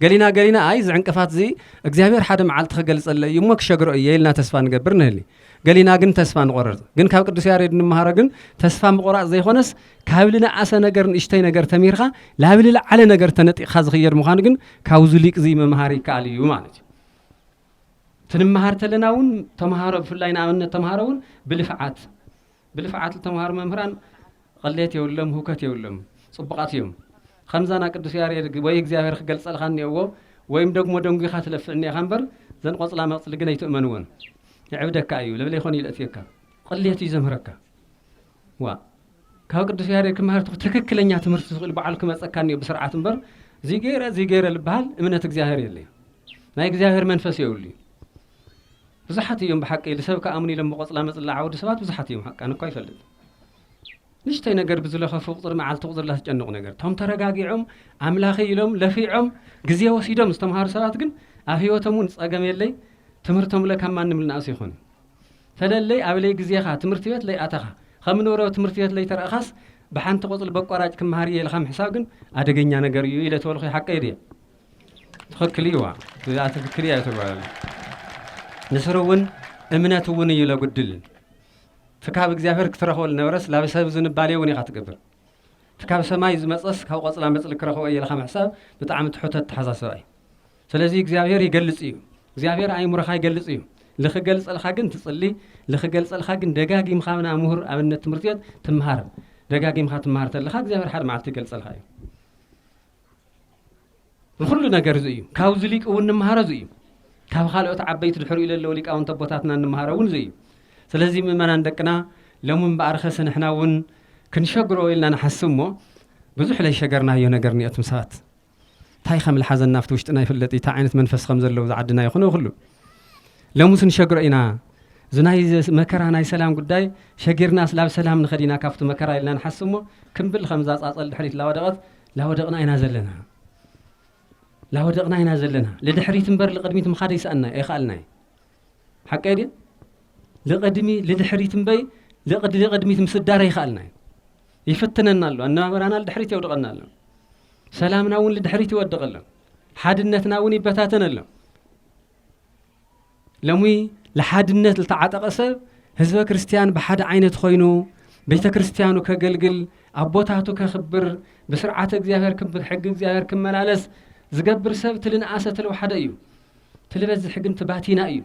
ገሊና ገሊና ኣይ እዚ ዕንቅፋት እዚ እግዚኣብሔር ሓደ መዓልቲ ክገልጸለይ እዩ እሞ ክሸግሮ እየ ኢልና ተስፋ ንገብር ንህሊ ገሊና ግን ተስፋ ንቆርር ግን ካብ ቅዱስ ያሬድ ንምሃሮ ግን ተስፋ ምቁራፅ ዘይኮነስ ካብ ልንኣሰ ነገር ንእሽተይ ነገር ተሚርካ ላብ ልልዓለ ነገር ተነጢቕካ ዝኽየድ ምዃኑ ግን ካብዚ ሊቅ እዚ ምምሃር ይከኣል እዩ ማለት እዩ ትንምሃር ተለና እውን ተምሃሮ ብፍላይ ንኣብነት ተምሃሮ እውን ብልፍዓት ብልፍዓት ልተምሃሩ መምህራን ቕሌት የብሎም ህውከት የብሎም ጽቡቓት እዮም ኸምዛ ና ቅዱስ ያሬድ ወይ እግዚኣብሔር ክገልጸልኻ እኔእዎ ወይም ደግሞ ደንጒኻ ትለፍዕ እኔኻ እምበር ዘን ቖጽላ መቕጽሊ ግን ኣይትእመንወን የዕብደካ እዩ ለብለይ ኾን ኢሉ ኣእትየካ ቕሌት እዩ ዘምህረካ ዋእ ካብ ቅዱስ ያሬድ ክመሃር ትኽ ትክክለኛ ትምህርቲ ዝኽእል በዓሉ ክመጸካ እኔኦ ብስርዓት እምበር እዙይ ገይረ እዙይ ገይረ ልበሃል እምነት እግዚኣብሔር የለይ ናይ እግዚኣብሔር መንፈስ የብሉ እዩ ብዙሓት እዮም ብሓቂ ልሰብ ክኣምኑ ኢሎም ብቆጽላ መጽላ ዓውዲ ሰባት ብዙሓት እዮም ሓቃን እኳ ይፈልጥ ንሽተይ ነገር ብዝለኸፉ ቁጽሪ መዓልቲ ቁጽሪ ላትጨንቑ ነገር ቶም ተረጋጊዖም ኣምላኺ ኢሎም ለፊዖም ግዜ ወሲዶም ዝተምሃሩ ሰባት ግን ኣብ ህይወቶም እውን ጸገም የለይ ትምህርቶም ለ ካብ ማንም ልናእሱ ይኾኑ ፈለለይ ኣብለይ ግዜኻ ትምህርቲ ቤት ለይኣተኻ ከም ንብሮ ትምህርቲ ቤት ለይተረእኻስ ብሓንቲ ቆጽሊ በቋራጭ ክምሃር እየ ኢልካ ምሕሳብ ግን ኣደገኛ ነገር እዩ ኢለ ተበልኹ ሓቀይ ድየ ትክክል እዩዋ እዚኣ ትክክል እያ ተጓል ንስሩ እውን እምነት እውን እዩ ለጉድል ፍካብ እግዚኣብሔር ክትረክቦ ዝነበረስ ላብ ሰብ ዝንባሌ እውን ኢካ ትገብር ፍካብ ሰማይ ዝመፀስ ካብ ቆፅላ መፅሊ ክረክቦ እየ ኢልካ ምሕሳብ ብጣዕሚ ትሑት ኣተሓሳስባ እዩ ስለዚ እግዚኣብሔር ይገልፅ እዩ እግዚኣብሔር ኣይምሮካ ይገልፅ እዩ ልክገልፀልካ ግን ትፅሊ ልክገልፀልካ ግን ደጋጊምካ ብና ምሁር ኣብነት ትምህርቲ ቤት ትምሃር ደጋጊምካ ትምሃር ተለካ እግዚኣብሔር ሓደ መዓልቲ ይገልፀልካ እዩ ንኹሉ ነገር እዚ እዩ ካብዚ ሊቅ እውን ንምሃሮ እዚ እዩ ካብ ካልኦት ዓበይቲ ድሕሪኡ ለለዉ ሊቃውንት ኣቦታትና ንምሃሮ እውን እዚ እዩ ስለዚ ምእመናን ደቅና ሎሚ እምበኣር ኸሰ ንሕና እውን ክንሸግሮ ኢልና ንሓስብ እሞ ብዙሕ ለይሸገርናዮ ነገር እኒኦትም ሰባት እንታይ ከም ልሓዘና ኣብቲ ውሽጥና ይፍለጥ እንታይ ዓይነት መንፈስ ከም ዘለዉ ዝዓድና ይኹነ ይኹሉ ሎምስ ንሸግሮ ኢና እዚ ናይ መከራ ናይ ሰላም ጉዳይ ሸጊርና ስላብ ሰላም ንኸዲና ካብቲ መከራ ኢልና ንሓስብ እሞ ክንብል ከምዛ ፃፀል ድሕሪት ላወደቐት ላወደቕና ኢና ዘለና ላወደቕና ኢና ዘለና ልድሕሪት እምበር ልቕድሚት ምኻድ ኣይሰኣና ኣይኸኣልናይ ሓቀይ ድየ ልቕድሚ ልድሕሪት እምበይ ልቕድ ልቕድሚት ምስዳር ኣይኸኣልናይ ይፍትነና ኣሎ ኣነባበራና ልድሕሪት የውድቐና ኣሎ ሰላምና እውን ልድሕሪት ይወድቕ ኣሎ ሓድነትና እውን ይበታተን ኣሎ ለሚ ልሓድነት ልተዓጠቐ ሰብ ህዝበ ክርስቲያን ብሓደ ዓይነት ኾይኑ ቤተ ክርስቲያኑ ከገልግል ኣቦታቱ ከኽብር ብስርዓተ እግዚኣብሔር ክምር ሕጊ እግዚኣብሔር ክመላለስ ዝገብር ሰብ ትልንኣሰ ትልውሓደ እዩ ትልበዝሒ ግን ትባቲና እዩ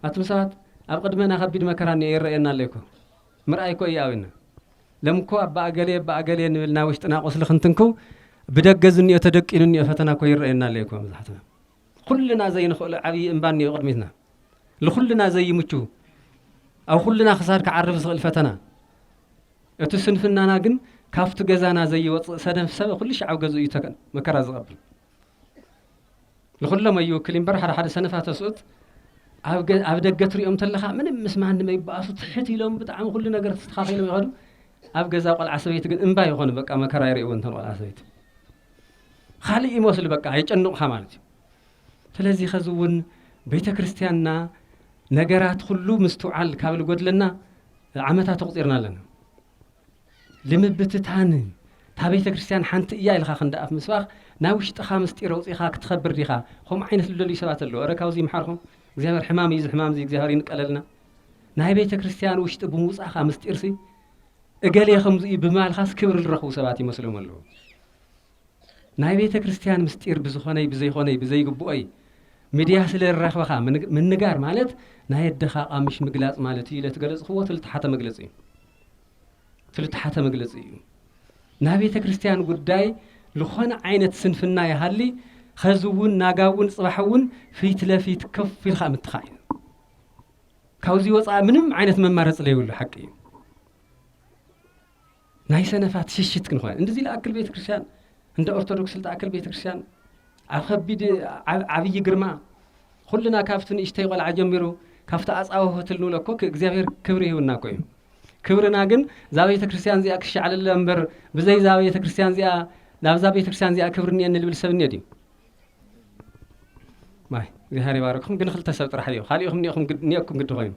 ኣቱም ሰባት ኣብ ቅድመና ከቢድ መከራ እኒ ይረአየና ኣለይኮ ምርኣይ ኮ እዩ ኣውና ለምኮ ኣባ ኣገሌ ኣባ ኣገሌ ንብልና ውሽጥና ቁስሊ ክንትንክው ብደገ ዝኒኦ ተደቂኑ እኒኦ ፈተና ኮ ይረአየና ኣለይኮ መብዛሕትና ኹልና ዘይንኽእሎ ዓብዪ እምባ እኒኦ ቅድሚትና። ልኹልና ዘይምቹ ኣብ ኹልና ክሳድ ክዓርፍ ዝኽእል ፈተና። እቲ ስንፍናና ግን ካብቲ ገዛና ዘይወፅእ ሰደፍ ሰብ ኩሉ ሻዕ ኣብ ገዝኡ እዩ ተከ- መከራ ዝቐብል። ንኹሎም ኣይውክል እምበር ሓደ ሓደ ሰነፋ ተስኡት ኣብ ገ- ኣብ ደገ ትሪኦም ተለኻ ምንም ምስ ማንም ኣይበኣሱ ትሕት ኢሎም ብጣዕሚ ኩሉ ነገር ተስተኻኺሎም ይኸዱ። ኣብ ገዛ ቆልዓ ሰበይቲ ግን እምባ ይኾኑ በቃ መከራ ይርእይዎ እንተን ቆልዓ ሰበይቲ። ኻልእ ይመስሉ በቃ የጨንቑኻ ማለት እዩ። ስለዚ ኸዚ እውን ቤተ ክርስቲያንና ነገራት ኹሉ ምስትውዓል ካብ ልጎድለና ዓመታት ኣቑፂርና ኣለና። ልምብትታን እታ ቤተ ክርስቲያን ሓንቲ እያ ኢልኻ ክንዲ ኣፍ ምስባኽ ናይ ውሽጥኻ ምስጢር ኣውፂኻ ክትኸብር ዲኻ ከምኡ ዓይነት ልደልዩ ሰባት ኣለዉ። እረ ካብዚ ይምሓርኩም እግዚኣብሔር ሕማም እዩ እዚ ሕማም እዚ እግዚኣብሔር ይንቀለልና። ናይ ቤተ ክርስቲያን ውሽጢ ብምውፃኻ ምስጢርሲ እገሌ ከምዚ እዩ ብምባልኻስ ክብሪ ዝረኽቡ ሰባት ይመስሎም ኣለዉ። ናይ ቤተ ክርስቲያን ምስጢር ብዝኾነይ ብዘይኾነይ ብዘይግብኦይ ምድያ ስለ ረኽበኻ ምንጋር ማለት ናይ ኣደኻ ኣቃምሽ ምግላጽ ማለት እዩ ኢለ ትገለጽኽዎ ትልተሓተ መግለጺ እዩ ትልተሓተ መግለጺ እዩ ናይ ቤተ ክርስቲያን ጉዳይ ዝኾነ ዓይነት ስንፍና ይሃሊ ኸዚ እውን ናጋ እውን ጽባሕ እውን ፊት ለፊት ከፍ ኢልካ ምትኻእ እዩ ካብዚ ወፃኢ ምንም ዓይነት መማረፂ ዘይብሉ ሓቂ እዩ ናይ ሰነፋት ሽሽት ክንኾን እንድዚ ልኣክል ቤተክርስቲያን እንደ ኦርቶዶክስ ልትኣክል ቤተክርስቲያን ኣብ ከቢድ ዓብይ ግርማ ኩልና ካብቲ ንእሽተይ ቆልዓ ጀሚሩ ካብቲ ኣጻወሆት ልንብሎ እኮ እግዚኣብሔር ክብሪ ይህብና እኮ እዩ ክብርና ግን እዛ ቤተክርስቲያን እዚኣ ክሻዕለለ እምበር ብዘይ እዛ ቤተክርስቲያን እዚኣ ናብዛ ቤተክርስቲያን እዚኣ ክብሪ እኒኤኒ ልብል ሰብ እኒኦ ድዩ ማይ እግዚኣብሔር ይባርክኹም ግን ክልተ ሰብ ጥራሕ እዩ ካሊእኹም ኒኹም ኒኩም ግዲ ኮይኑ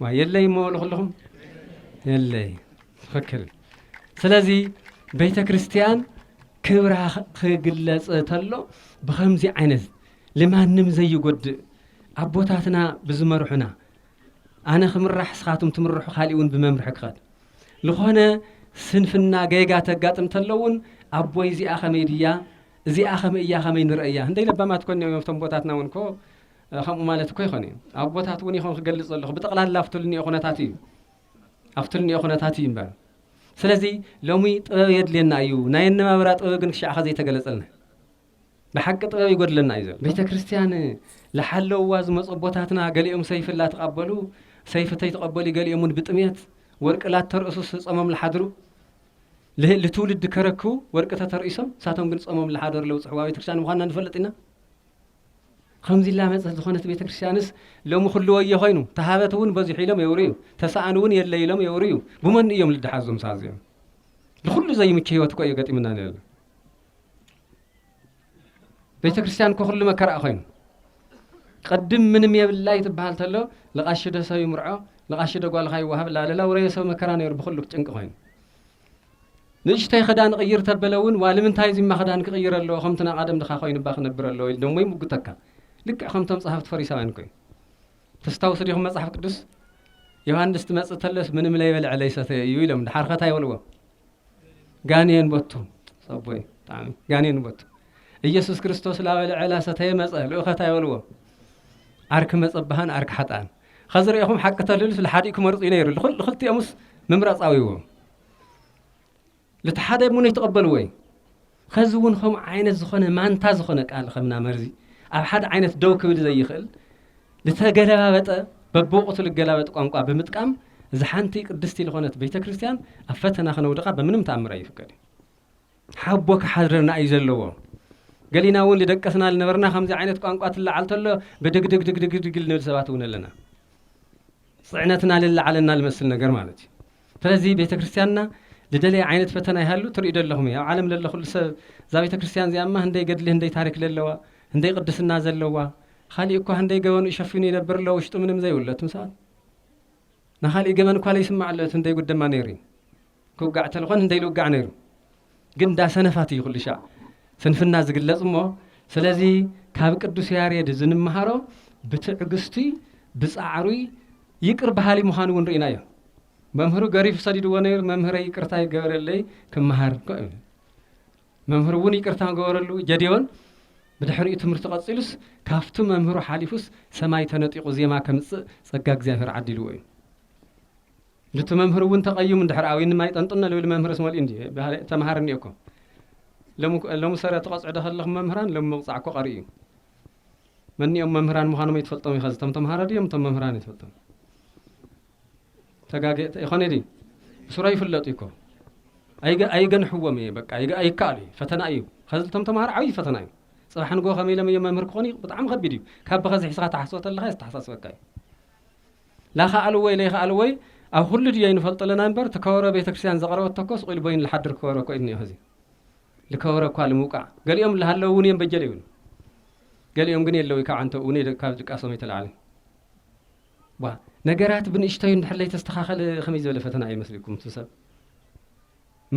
ማይ የለይ እሞ ልኹልኹም የለይ ትክክል ስለዚ ቤተ ክርስቲያን ክብራ ክግለፅ ተሎ ብከምዚ ዓይነት ልማንም ዘይጎድእ ኣቦታትና ብዝመርሑና ኣነ ክምራሕ ስኻትም ትምርሑ ካሊእ እውን ብመምርሒ ክኸድ ልኾነ ስንፍና ገይጋ ተጋጥም ተሎውን ኣቦይ እዚኣ ከመይ ድያ እዚኣ ከምእ እያ ከመይ ንርእያ እንደይ ለባማት ኮን እዮም ኣብቶም ቦታትና እውን ኮ ከምኡ ማለት እኮ ይኾን እዩ ኣብ ቦታት እውን ይኾን ክገልጽ ዘለኹ ብጠቕላላ ኣብቲ ልንኦ ኩነታት እዩ ኣብቲ ልንኦ ኩነታት እዩ እምበር ስለዚ ሎሚ ጥበብ የድልየና እዩ ናይ ኣነባብራ ጥበብ ግን ክሻዕኸ ዘይተገለጸልና ብሓቂ ጥበብ ይጎድለና እዩ ዘሎ ቤተ ክርስትያን ልሓለውዋ ዝመጹ ኣቦታትና ገሊኦም ሰይፊ ላተቃበሉ ሰይፊ ተይተቀበሉ ገሊኦም ውን ብጥሜት ወርቂ ላተርእሱ ጾሞም ልሓድሩ ልትውልድ ከረክቡ ወርቂ ተተርኢሶም ንሳቶም ግን ጾሞም ልሓደሩ ለውጽሕዋ ቤተክርስትያን ምዃንና ንፈልጥ ኢና ከምዚ ላመጸት ዝኾነት ቤተክርስትያንስ ሎሚ ኩሉ ወዮ ኮይኑ ተሃበት እውን በዚሑ ኢሎም የውርዩ ተሰኣን እውን የለ ኢሎም የውርዩ ብመን እዮም ልደሓዞም ሳዚኦም ንኩሉ ዘይምቹ ህይወት እኮ እዩ ገጢምና ነለ ቤተ ክርስቲያን እኮ ኩሉ መከራኣ ኮይኑ ቅድም ምንም የብላ ይትበሃል ተሎ ልቃሺ ዶ ሰብ ይምርዖ ልቃሺ ዶ ጓልካ ይወሃብ ላለላ ውረየ ሰብ መከራ ነይሩ ብኩሉ ጭንቂ ኮይኑ ንእሽተይ ክዳን ቅይር ተበለ እውን ዋልምንታይ እዚማ ክዳን ክቅይር ኣለዎ ከምቲ ናይ ቀደም ድካ ኮይኑባ ክነብር ኣለዎ ኢል ደሞ ይምጉተካ ልክዕ ከምቶም ጸሃፍቲ ፈሪሳውያን ኮይኑ ተስታውሱ ዲኹም መጽሓፍ ቅዱስ ዮሃንስ ትመጽእ ተለስ ምንም ለይበልዐ ለይሰተየ እዩ ኢሎም ድሓርከታ ይበልዎ ጋኔን ቦቱ ሰቦይ ብጣዕሚ ጋኔን ቦቱ ኢየሱስ ክርስቶስ ላበለ ዕላ ሰተየ መጸ ልኡኸት ኣይበልዎ ዓርኪ መጸባሃን ዓርኪ ሓጣን ኸዚ ርኢኹም ሓቂ ተልልስ ልሓዲኡ ክመርጹ እዩ ነይሩ ልኽልቲኦምስ ምምራጻዊዎ ልትሓደ ሙን ይተቐበልዎ እዩ ኸዚ እውን ኸምኡ ዓይነት ዝኾነ ማንታ ዝኾነ ቃል ኸምና መርዚ ኣብ ሓደ ዓይነት ደው ክብል ዘይኽእል ልተገለባበጠ በብወቕቱ ልገላበጥ ቋንቋ ብምጥቃም እዛ ሓንቲ ቅድስቲ ልኾነት ቤተ ክርስቲያን ኣብ ፈተና ኸነውድቓ በምንም ተኣምር ኣይፍቀድን። ሓቦ ክሓድረና እዩ ዘለዎ። ገሊና እውን ልደቀስና ልነበርና ከምዚ ዓይነት ቋንቋ ትለዓል ተሎ ብድግድግድግድግድግ ልንብል ሰባት እውን ኣለና። ፅዕነትና ልለዓለና ልመስል ነገር ማለት እዩ። ስለዚ ቤተ ክርስትያንና ልደልያ ዓይነት ፈተና ይሃሉ ትርእዩ ዶ ኣለኹም እዩ ኣብ ዓለም ለሎ ኩሉ ሰብ እዛ ቤተ ክርስትያን እዚኣ እማ ህንደይ ገድሊ ህንደይ ታሪክ ለለዋ ህንደይ ቅድስና ዘለዋ ኻሊእ እኳ ህንደይ ገበኑ ሸፊኑ ይነብር ኣሎ ውሽጡ ምንም ዘይብሎ እትም ሰባት ንኻሊእ ገበን እኳ ለይስማዕ ኣሎ እቲ ህንደይ ጉድ ደማ ነይሩ እዩ ክውጋዕ ተልኾን ህንደይ ልውጋዕ ነይሩ ግን እንዳ ሰነፋት እዩ ኩልሻዕ ስንፍና ዝግለጽ እሞ ስለዚ ካብ ቅዱስ ያሬድ እዚ ንመሃሮ ብትዕግስቱይ ብጻዕሩይ ይቅር በሃሊ ምዃኑ እውን ርኢናዮ መምህሩ ገሪፉ ሰዲድዎ ነይሩ መምህረይ ይቅርታ ይገበረለይ ክመሃር መምህሩ እውን ይቅርታ ገበረሉ ጀዴዎን ብድሕሪኡ ትምህርቲ ቀጺሉስ ካብቲ መምህሩ ሓሊፉስ ሰማይ ተነጢቑ ዜማ ከምጽእ ጸጋ እግዚኣብሔር ዓዲልዎ እዩ ንቲ መምህር እውን ተቀይሙ እንድሕር ኣውይኒ ማይ ጠንጥኖ ልብል መምህርስ መልኡ እንድዩ በሃላይ ተምሃር እኒኦ እኮ ሎሚ ሎሚ ሰረ ትቀጽዑ ዶ ከለኹም መምህራን ሎሚ ምቕጻዕ እኮ ቀሪ እዩ መኒኦም መምህራን ምዃኖም ኣይትፈልጦም ኢኻ እቶም ተምሃሮ ድዮም እቶም መምህራን ኣይትፈልጦም ተጋገ ይኾነ ድዩ ብስሮ ይፍለጡ እኮ ኣይገንሕዎም እየ በቃ ኣይከኣሉ እዩ ፈተና እዩ ከዚ እቶም ተምሃሮ ዓብዪ ፈተና እዩ ፅባሕ ንጎ ከመይ ኢሎም እዮም መምህር ክኾኑ ብጣዕሚ ከቢድ እዩ ካብ ብኸዚ ሒስኻ ተሓስቦ ተለካ ዝተሓሳስበካ እዩ ላይኻኣልዎይ ለይኻኣልዎይ ኣብ ኹሉ ድዬ ንፈልጦ ለና እምበር እቲ ከበሮ ቤተክርስትያን ዘቅረበቶ እኮ ስቁኢሉ በይኑ ልሓድር ከበሮ እኮ እዩ እኒኦ ኸዚ ልከበሮ እኳ ልምውቃዕ ገሊኦም ልሃለው እውን እዮም በጀ ለይብሉ ገሊኦም ግን የለውይ ካብ ዓንተብኡ እውን ካብ ድቃሶም ኣይተላዕልን ዋ ነገራት ብንእሽተዩ እንድሕር ለይተስተኻኸለ ከመይ ዝበለ ፈተና እዩ መስልኩም እቲ ሰብ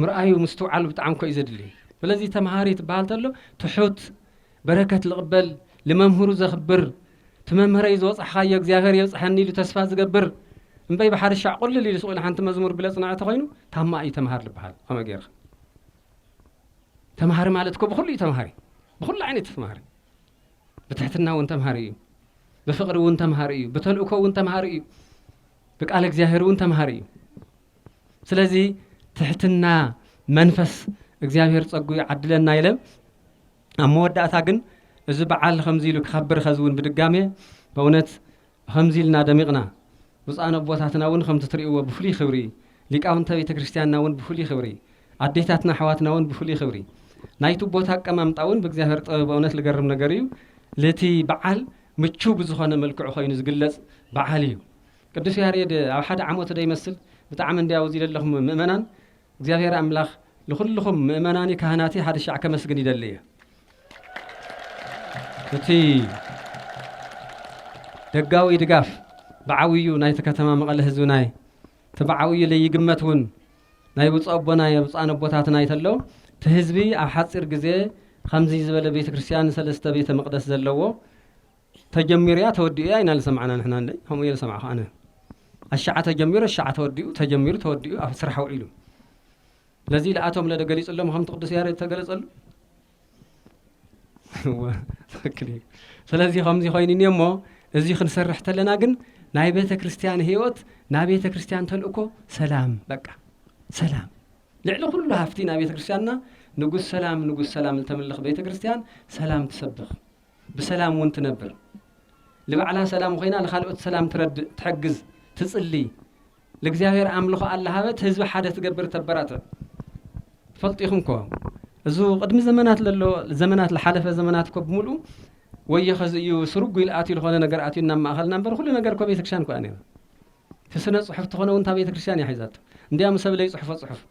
ምርኣዩ ምስትውዓሉ ብጣዕሚ እኮ እዩ ዘድሊ ስለዚ ተምሃሪ ትበሃል ተሎ ትሑት በረከት ልቕበል ልመምህሩ ዘኽብር ትመምህረይ ዝወፃሕኻዮ እግዚኣብሔር የብፅሐኒ ኢሉ ተስፋ ዝገብር እምበይ ብሓርሻዕ ቁልል ኢሉ ስቑኢሉ ሓንቲ መዝሙር ብለ ፅናዕ ተኾይኑ ታማ እዩ ተምሃር ልበሃል ከመይ ገይርኻ ተምሃሪ ማለት እኮ ብኩሉ እዩ ተምሃሪ ብኩሉ ዓይነት ተምሃሪ ብትሕትና እውን ተምሃሪ እዩ ብፍቅሪ እውን ተምሃሪ እዩ ብተልእኮ እውን ተምሃሪ እዩ ብቃል እግዚኣብሔር እውን ተምሃሪ እዩ ስለዚ ትሕትና መንፈስ እግዚኣብሔር ጸጉ ይዓድለና ኢለ ኣብ መወዳእታ ግን እዚ በዓል ከምዚ ኢሉ ክኸብር ኸዚ እውን ብድጋሜ በእውነት ከምዚ ኢልና ደሚቕና ብፁዓን ኣቦታትና እውን ከምቲ ትርእይዎ ብፍሉይ ክብሪ ሊቃውንተ ቤተ ክርስቲያንና እውን ብፍሉይ ክብሪ ኣዴታትና ኣሕዋትና እውን ብፍሉይ ክብሪ ናይቲ ቦታ ኣቀማምጣ እውን ብእግዚኣብሔር ጥበብ በእውነት ልገርም ነገር እዩ ልቲ በዓል ምቹው ብዝኾነ መልክዑ ኮይኑ ዝግለጽ በዓል እዩ ቅዱስ ያሬድ ኣብ ሓደ ዓሞት ዶ ይመስል ብጣዕሚ እንድያ ውዚ ለለኹም ምእመናን እግዚኣብሔር ኣምላኽ ልኹልኹም ምእመናኒ ካህናቲ ሓደሻዕ ከመስግን ይደሊ እየ እቲ ደጋዊ ድጋፍ ብዓውዩ ናይቲ ከተማ መቐለ ህዝቢ ናይ እቲ ብዓውዩ ለይግመት እውን ናይ ብፁዕ ኣቦና የብፁዓን ኣቦታትና ይተሎ እቲ ህዝቢ ኣብ ሓፂር ግዜ ከምዚ ዝበለ ቤተ ክርስቲያን ሰለስተ ቤተ መቅደስ ዘለዎ ተጀሚሩ እያ ተወዲኡ እያ ኢና ዝሰማዕና ንሕና እንድዒ ከምኡ እየ ዝሰማዕኩ ኣነ ኣሻዓ ተጀሚሩ ኣሻዓ ተወዲኡ ተጀሚሩ ተወዲኡ ኣብ ስራሕ ውዒሉ ስለዚ ለኣቶም ለደ ገሊፅሎም ከምቲ ቅዱስ ያሬድ ተገለፀሉ ትክክል እዩ ስለዚ ከምዚ ኮይኑ እኒ እሞ እዚ ክንሰርሕ ተለና ግን ናይ ቤተ ክርስትያን ህይወት ናይ ቤተ ክርስትያን ተልእኮ ሰላም በቃ ሰላም ልዕሊ ኩሉ ሃፍቲ ናይ ቤተ ክርስትያንና ንጉስ ሰላም ንጉስ ሰላም ዝተምልኽ ቤተ ክርስትያን ሰላም ትሰብኽ ብሰላም እውን ትነብር። ልባዕላ ሰላም ኾይና ልኻልኦት ሰላም ትረድእ፣ ትሕግዝ፣ ትጽሊ፣ ልእግዚኣብሔር ኣምልኾ ኣላሃበት ህዝቢ ሓደ ትገብር ተበራትዕ። ትፈልጡ ኢኹም እኮ እዙ ቅድሚ ዘመናት ለሎ ዘመናት ልሓለፈ ዘመናት እኮ ብምልኡ ወዮ ኸዚ እዩ ስርጉ ኢል ኣትዩ ልኾነ ነገር ኣትዩ ናብ ማእኸልና እምበር ኹሉ ነገር እኮ ቤተክርስትያን እኮ እያ ነይራ። እቲ ስነ ጽሑፍ ተኾነ ውን እታ ቤተ ክርስትያን እያ ሒዛቶ እንድያም ሰብ ለይጽሕፎ ጽሑፍ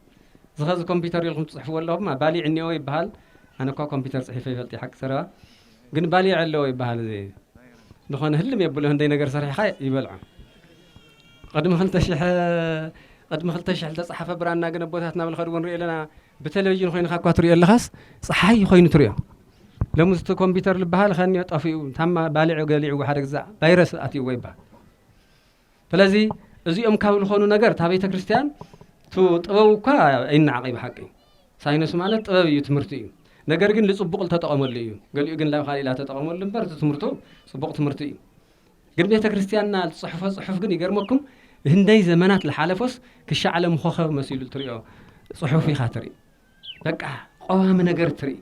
እዚ ኸዚ ኮምፒተር ኢልኩም ትጽሕፍዎ ኣለኹም ባሊዕ እኒኦ ይብሃል ኣነ እኳ ኮምፒተር ጽሒፈ ይፈልጥ እየ ሓቂ ዘረባ ግን ባሊዕ ኣለዎ ይብሃል እዚ ዝኾነ ህልም የብሎ ህንደይ ነገር ሰሪሕኻ ይበልዖ ቕድሚ ክልተ ሽሕ ቕድሚ ክልተ ሽሕ ዝተጻሓፈ ብራና ግን ኣቦታትና ብል ኸድዎ ንሪኦ ኣለና ብተለቪዥን ኮይንካ እኳ ትሪኦ ኣለኻስ ፀሓይ ኮይኑ ትሪኦ ሎሚ እቲ ኮምፒተር ዝበሃል ኸኒዮ ጠፊኡ ታማ ባሊዑ ገሊዑዎ ሓደ ግዛ ቫይረስ ኣትዩዎ ይበሃል ስለዚ እዚኦም ካብ ልኾኑ ነገር እታ ቤተ ክርስቲያን ቱ ጥበቡ እኳ ኣይነዓቐይ ብሓቂ ሳይነሱ ማለት ጥበብ እዩ ትምህርቲ እዩ ነገር ግን ልጽቡቕ ልተጠቐመሉ እዩ ገሊኡ ግን ላብ ካልእ ኢላ ተጠቐመሉ እምበር እቲ ትምህርቱ ጽቡቕ ትምህርቲ እዩ ግን ቤተ ክርስቲያንና ዝጽሕፎ ጽሑፍ ግን ይገርመኩም ህንደይ ዘመናት ዝሓለፎስ ክሻዕ ዓለም ኮኸብ መሲሉ ትሪኦ ጽሑፍ ኢኻ ትርኢ በቃ ቀዋሚ ነገር ትርኢ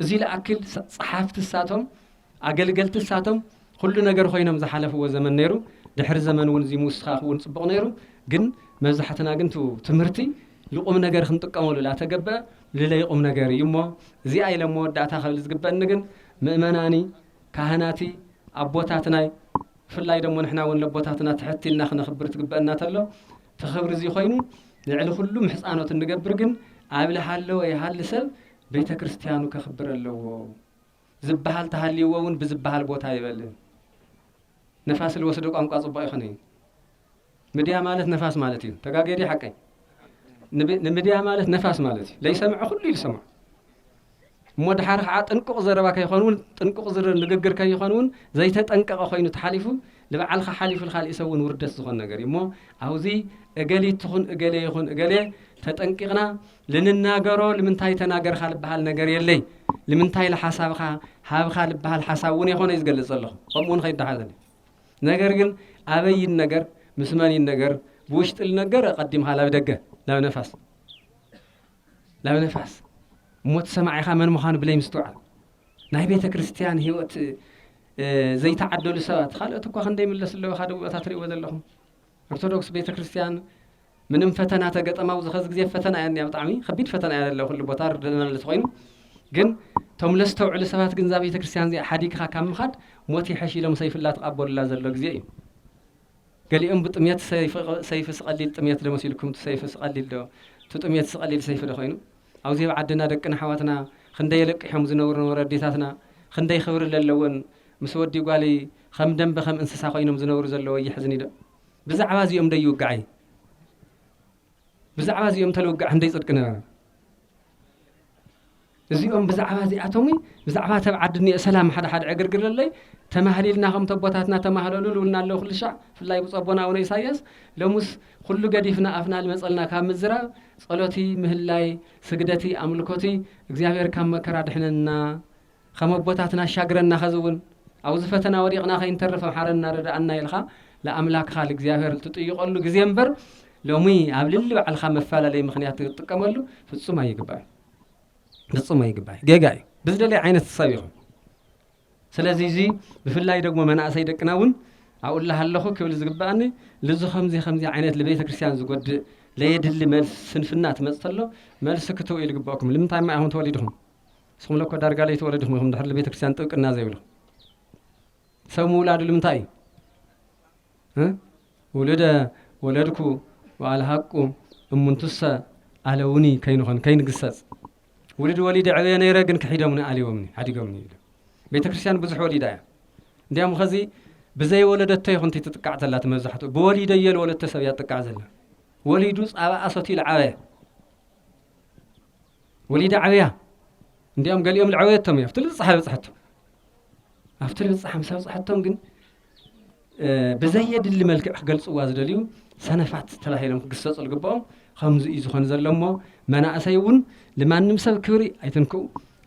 እዙይ ልኣክል ፀሓፍቲ እሳቶም ኣገልገልቲ እሳቶም ኹሉ ነገር ኾይኖም ዝሓለፍዎ ዘመን ነይሩ ድሕሪ ዘመን እውን እዙይ ምውስኻኽ እውን ፅቡቕ ነይሩ ግን መብዛሕትና ግን ቱ ትምህርቲ ልቁም ነገር ክንጥቀመሉ ላተገበ ልለይ ቁም ነገር እዩ እሞ እዚኣ ኢለ መወዳእታ ከብል ዝግበኒ ግን ምእመናኒ ካህናቲ ኣቦታትናይ ብፍላይ ደሞ ንሕና እውን ለቦታትና ትሕት ኢልና ክነኽብር ትግበአና ተሎ ተኽብሪ እዚ ኮይኑ ልዕሊ ኩሉ ምሕፃኖት እንገብር ግን ኣብ ልሃለወ ይሃሊ ሰብ ቤተ ክርስቲያኑ ከኽብር ኣለዎ ዝበሃል ተሃልይዎ እውን ብዝበሃል ቦታ ይበል ነፋስ ልወስዶ ቋንቋ ጽቡቕ ይኹን እዩ ምድያ ማለት ነፋስ ማለት እዩ ተጋጌ ድዩ ሓቀይ ንምድያ ማለት ነፋስ ማለት እዩ ለይሰምዐ ኩሉ ኢሉ ሰምዖ እሞ ድሓር ከዓ ጥንቁቕ ዘረባ ከይኾን እውን ጥንቁቕ ንግግር ከይኾን እውን ዘይተጠንቀቐ ኮይኑ ተሓሊፉ ንበዓልካ ሓሊፉ ንካልእ ሰብ እውን ውርደት ዝኾን ነገር እዩ እሞ ኣብዚ እገሊት ትኹን እገሌ ይኹን እገሌ ተጠንቂቕና ልንናገሮ ልምንታይ ተናገርካ ልበሃል ነገር የለይ ልምንታይ ልሓሳብካ ሃብካ ልበሃል ሓሳብ እውን የኾነ እዩ ዝገልፅ ዘለኹ ከምኡ እውን ከይዳሓዘን እዩ ነገር ግን ኣበይ ይነገር ምስ መን ይነገር ብውሽጢ ልነገር ቀዲምካ ላብ ደገ ላብ ነፋስ ላብ ነፋስ እሞ ትሰማዒኻ መን ምዃኑ ብለይ ምስትውዓል ናይ ቤተ ክርስቲያን ህይወት ዘይተዓደሉ ሰባት ካልኦት እኳ ክንደይ ምለስ ኣለዎ ካደ ቦታ ትርእይዎ ዘለኹም ኦርቶዶክስ ቤተ ክርስትያን ምንም ፈተና ተገጠማ ኣብዚ ከዚ ግዜ ፈተና እያ እኒኣ ብጣዕሚ ከቢድ ፈተና እያ ዘለ ኩሉ ቦታ ርድና ለቲ ኮይኑ ግን እቶም ለስተውዕሉ ሰባት ግን እዛ ቤተ ክርስትያን እዚኣ ሓዲግካ ካብ ምኻድ ሞት ይሐሽ ኢሎም ሰይፍላ ተቓበሉላ ዘሎ ግዜ እዩ ገሊኦም ብጥሜት ሰይፊ ስቀሊል ጥሜት ዶ መሲልኩም እቲ ሰይፊ ስቀሊል ዶ እቲ ጥሜት ስቀሊል ሰይፊ ዶ ኮይኑ ኣብዚ ኣብ ዓድና ደቅና ኣሕዋትና ክንደይ የለቅሖም ዝነብሩ ነበሩ ኣዴታትና ክንደይ ክብሪ ዘለወን ምስ ወዲ ጓል ኸም ደምበ ኸም እንስሳ ኾይኖም ዝነብሩ ዘለወ የሕዝን እዩዶ ብዛዕባ እዚኦም ደይ ይውጋዕ እዩ ብዛዕባ እዚኦም ተልውጋዕ ህንደይ ጽድቂ ነበረ እዚኦም ብዛዕባ እዚኣቶም ብዛዕባ ተብ ዓዲ እኒኦ ሰላም ሓደ ሓደ ዕግርግር ኣለይ ተማህሊልና ከም ተቦታትና ተማህለሉ ልውና ኣለዉ ኩሉ ሻዕ ብፍላይ ብጸቦና ኣቡነ ኢሳያስ ሎሙስ ኩሉ ገዲፍና ኣፍና ልመጸልና ካብ ምዝራብ ጸሎቲ ምህላይ ስግደቲ ኣምልኮቲ እግዚኣብሔር ካብ መከራ ድሕነና ኸም ኣቦታትና ኣሻግረና ኸዚ እውን ኣውዚ ፈተና ወዲቅና ከይንተርፍ ኣምሓረና ርደኣና ኢልኻ ልኣምላክኻ ልእግዚኣብሔር ልትጥይቀሉ ግዜ እምበር ሎሚ ኣብ ልሊ ባዕልኻ መፈላለይ ምክንያት ትጥቀመሉ ፍጹም ኣይግባእዩ ፍጹም ኣይግባእ ጌጋ እዩ ብዝደለይ ዓይነት ሰብ ይኹን ስለዚ እዚ ብፍላይ ደግሞ መናእሰይ ደቅና እውን ኣብኡ ኣለኹ ክብል ዝግባእኒ ልዚ ከምዚ ከምዚ ዓይነት ንቤተ ክርስቲያን ዝጎድእ ለየድሊ መልሲ ስንፍና ትመፅ ተሎ መልሲ ክትው ኢልግበእኩም ልምንታይ ማ ኢኹም ተወሊድኹም ንስኹም እኮ ዳርጋ ለይተወለድኹም ኢኹም ድሕሪ ቤተክርስትያን ጥብቅና ዘይብሉ ሰብ ምውላዱ ልምንታይ እዩ ውልደ ወለድኩ ወኣልሃቁ እሙንቱሰ ኣለውኒ ከይንኾን ከይንግሰጽ ውልድ ወሊድ ዕብየ ነይረ ግን ክሒዶምኒ ኣልዎምኒ ሓዲጎምኒ ኢሉ ቤተ ክርስቲያን ብዙሕ ወሊዳ እያ እንዲያም ኸዚ ብዘይ ወለደቶ ይኹንቲ ትጥቃዕ ዘላ እቲ መብዛሕትኡ ብወሊደ እየ ንወለድቶ ሰብ እያ ትጥቃዕ ዘላ ወሊዱ ፃባ ኣሰትዩ ልዓበየ ወሊዳ ዓበያ እንዲኦም ገሊኦም ልዕበየቶም እዩ ኣብቲ ልብፅሓ በፅሐቶም ኣብቲ ልብፅሓ ምስ ኣብፅሐቶም ግን ብዘየድሊ መልክዕ ክገልፅዋ ዝደልዩ ሰነፋት ተባሂሎም ክግሰፁ ዝግብኦም ከምዚ እዩ ዝኾን ዘሎ እሞ መናእሰይ እውን ልማንም ሰብ ክብሪ ኣይትንክኡ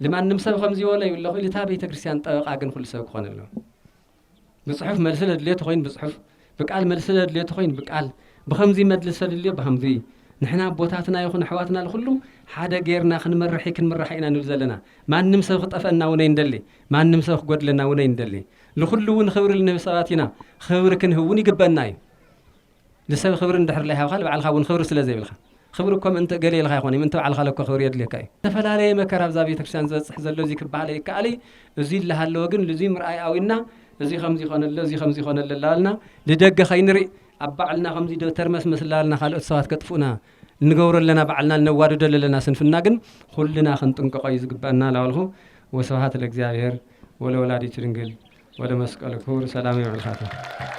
ልማንም ሰብ ከምዚ ወለዩ ኣለኹ ኢልታ ቤተ ክርስቲያን ጠበቃ ግን ኩሉ ሰብ ክኾን ኣለዎ ብጽሑፍ መልሲ ለድልዮ ተኾይኑ ብጽሑፍ፣ ብቃል መልሲ ለድልዮ ተኾይኑ ብቃል፣ ብኸምዚ መድልሲ ተድልዮ ብኸምዚ። ንሕና ኣቦታትና ይኹን ኣሕዋትና ልኹሉ ሓደ ገይርና ክንመርሒ ክንምራሕ ኢና ንብል ዘለና። ማንም ሰብ ክጠፍኣና እውን ኣይንደሊ። ማንም ሰብ ክጎድለና እውን ኣይንደሊ። ልኹሉ እውን ኽብሪ ልንህብ ሰባት ኢና። ኽብሪ ክንህብ እውን ይግበእና እዩ። ንሰብ ኽብሪ እንድሕር ለይሃብኻ ንባዕልኻ እውን ኽብሪ ስለ ዘይብልኻ ኽብሪ እኮ ምእንቲ እገሌ ኢልኻ ኣይኮነይ ምእንቲ ባዕልኻለ እኮ ኽብሪ የድልየካ እዩ። ዝተፈላለየ መከራ ኣብዛ ቤተክርስትያን ዝበጽሕ ዘሎ እዙይ ክበሃል ኣይከኣል እይ እዙይ እላሃለወ ግን ልዙይ ምርኣይ ኣውንና እዙይ ኸምዙይ ኾነ ኣሎ እዙይ ኸምዙይ ኾነ ኣሎ እላበልና ልደገ ኸይንሪእ ኣብ ባዕልና ኸምዙይ ዶ ተርመስመስ እላበልና ኻልኦት ሰባት ከጥፍኡና ልንገብሮ ኣለና ባዕልና ልነዋድዶ ለለና ስንፍና ግን ኹልና ኽንጥንቀቆ እዩ ዝግበእና እላበልኹ ወስብሃት ለእግዚኣብሔር ወለወላዲቱ ድንግል ወለመስቀሉ ክቡር ሰላም የውዕልካታ።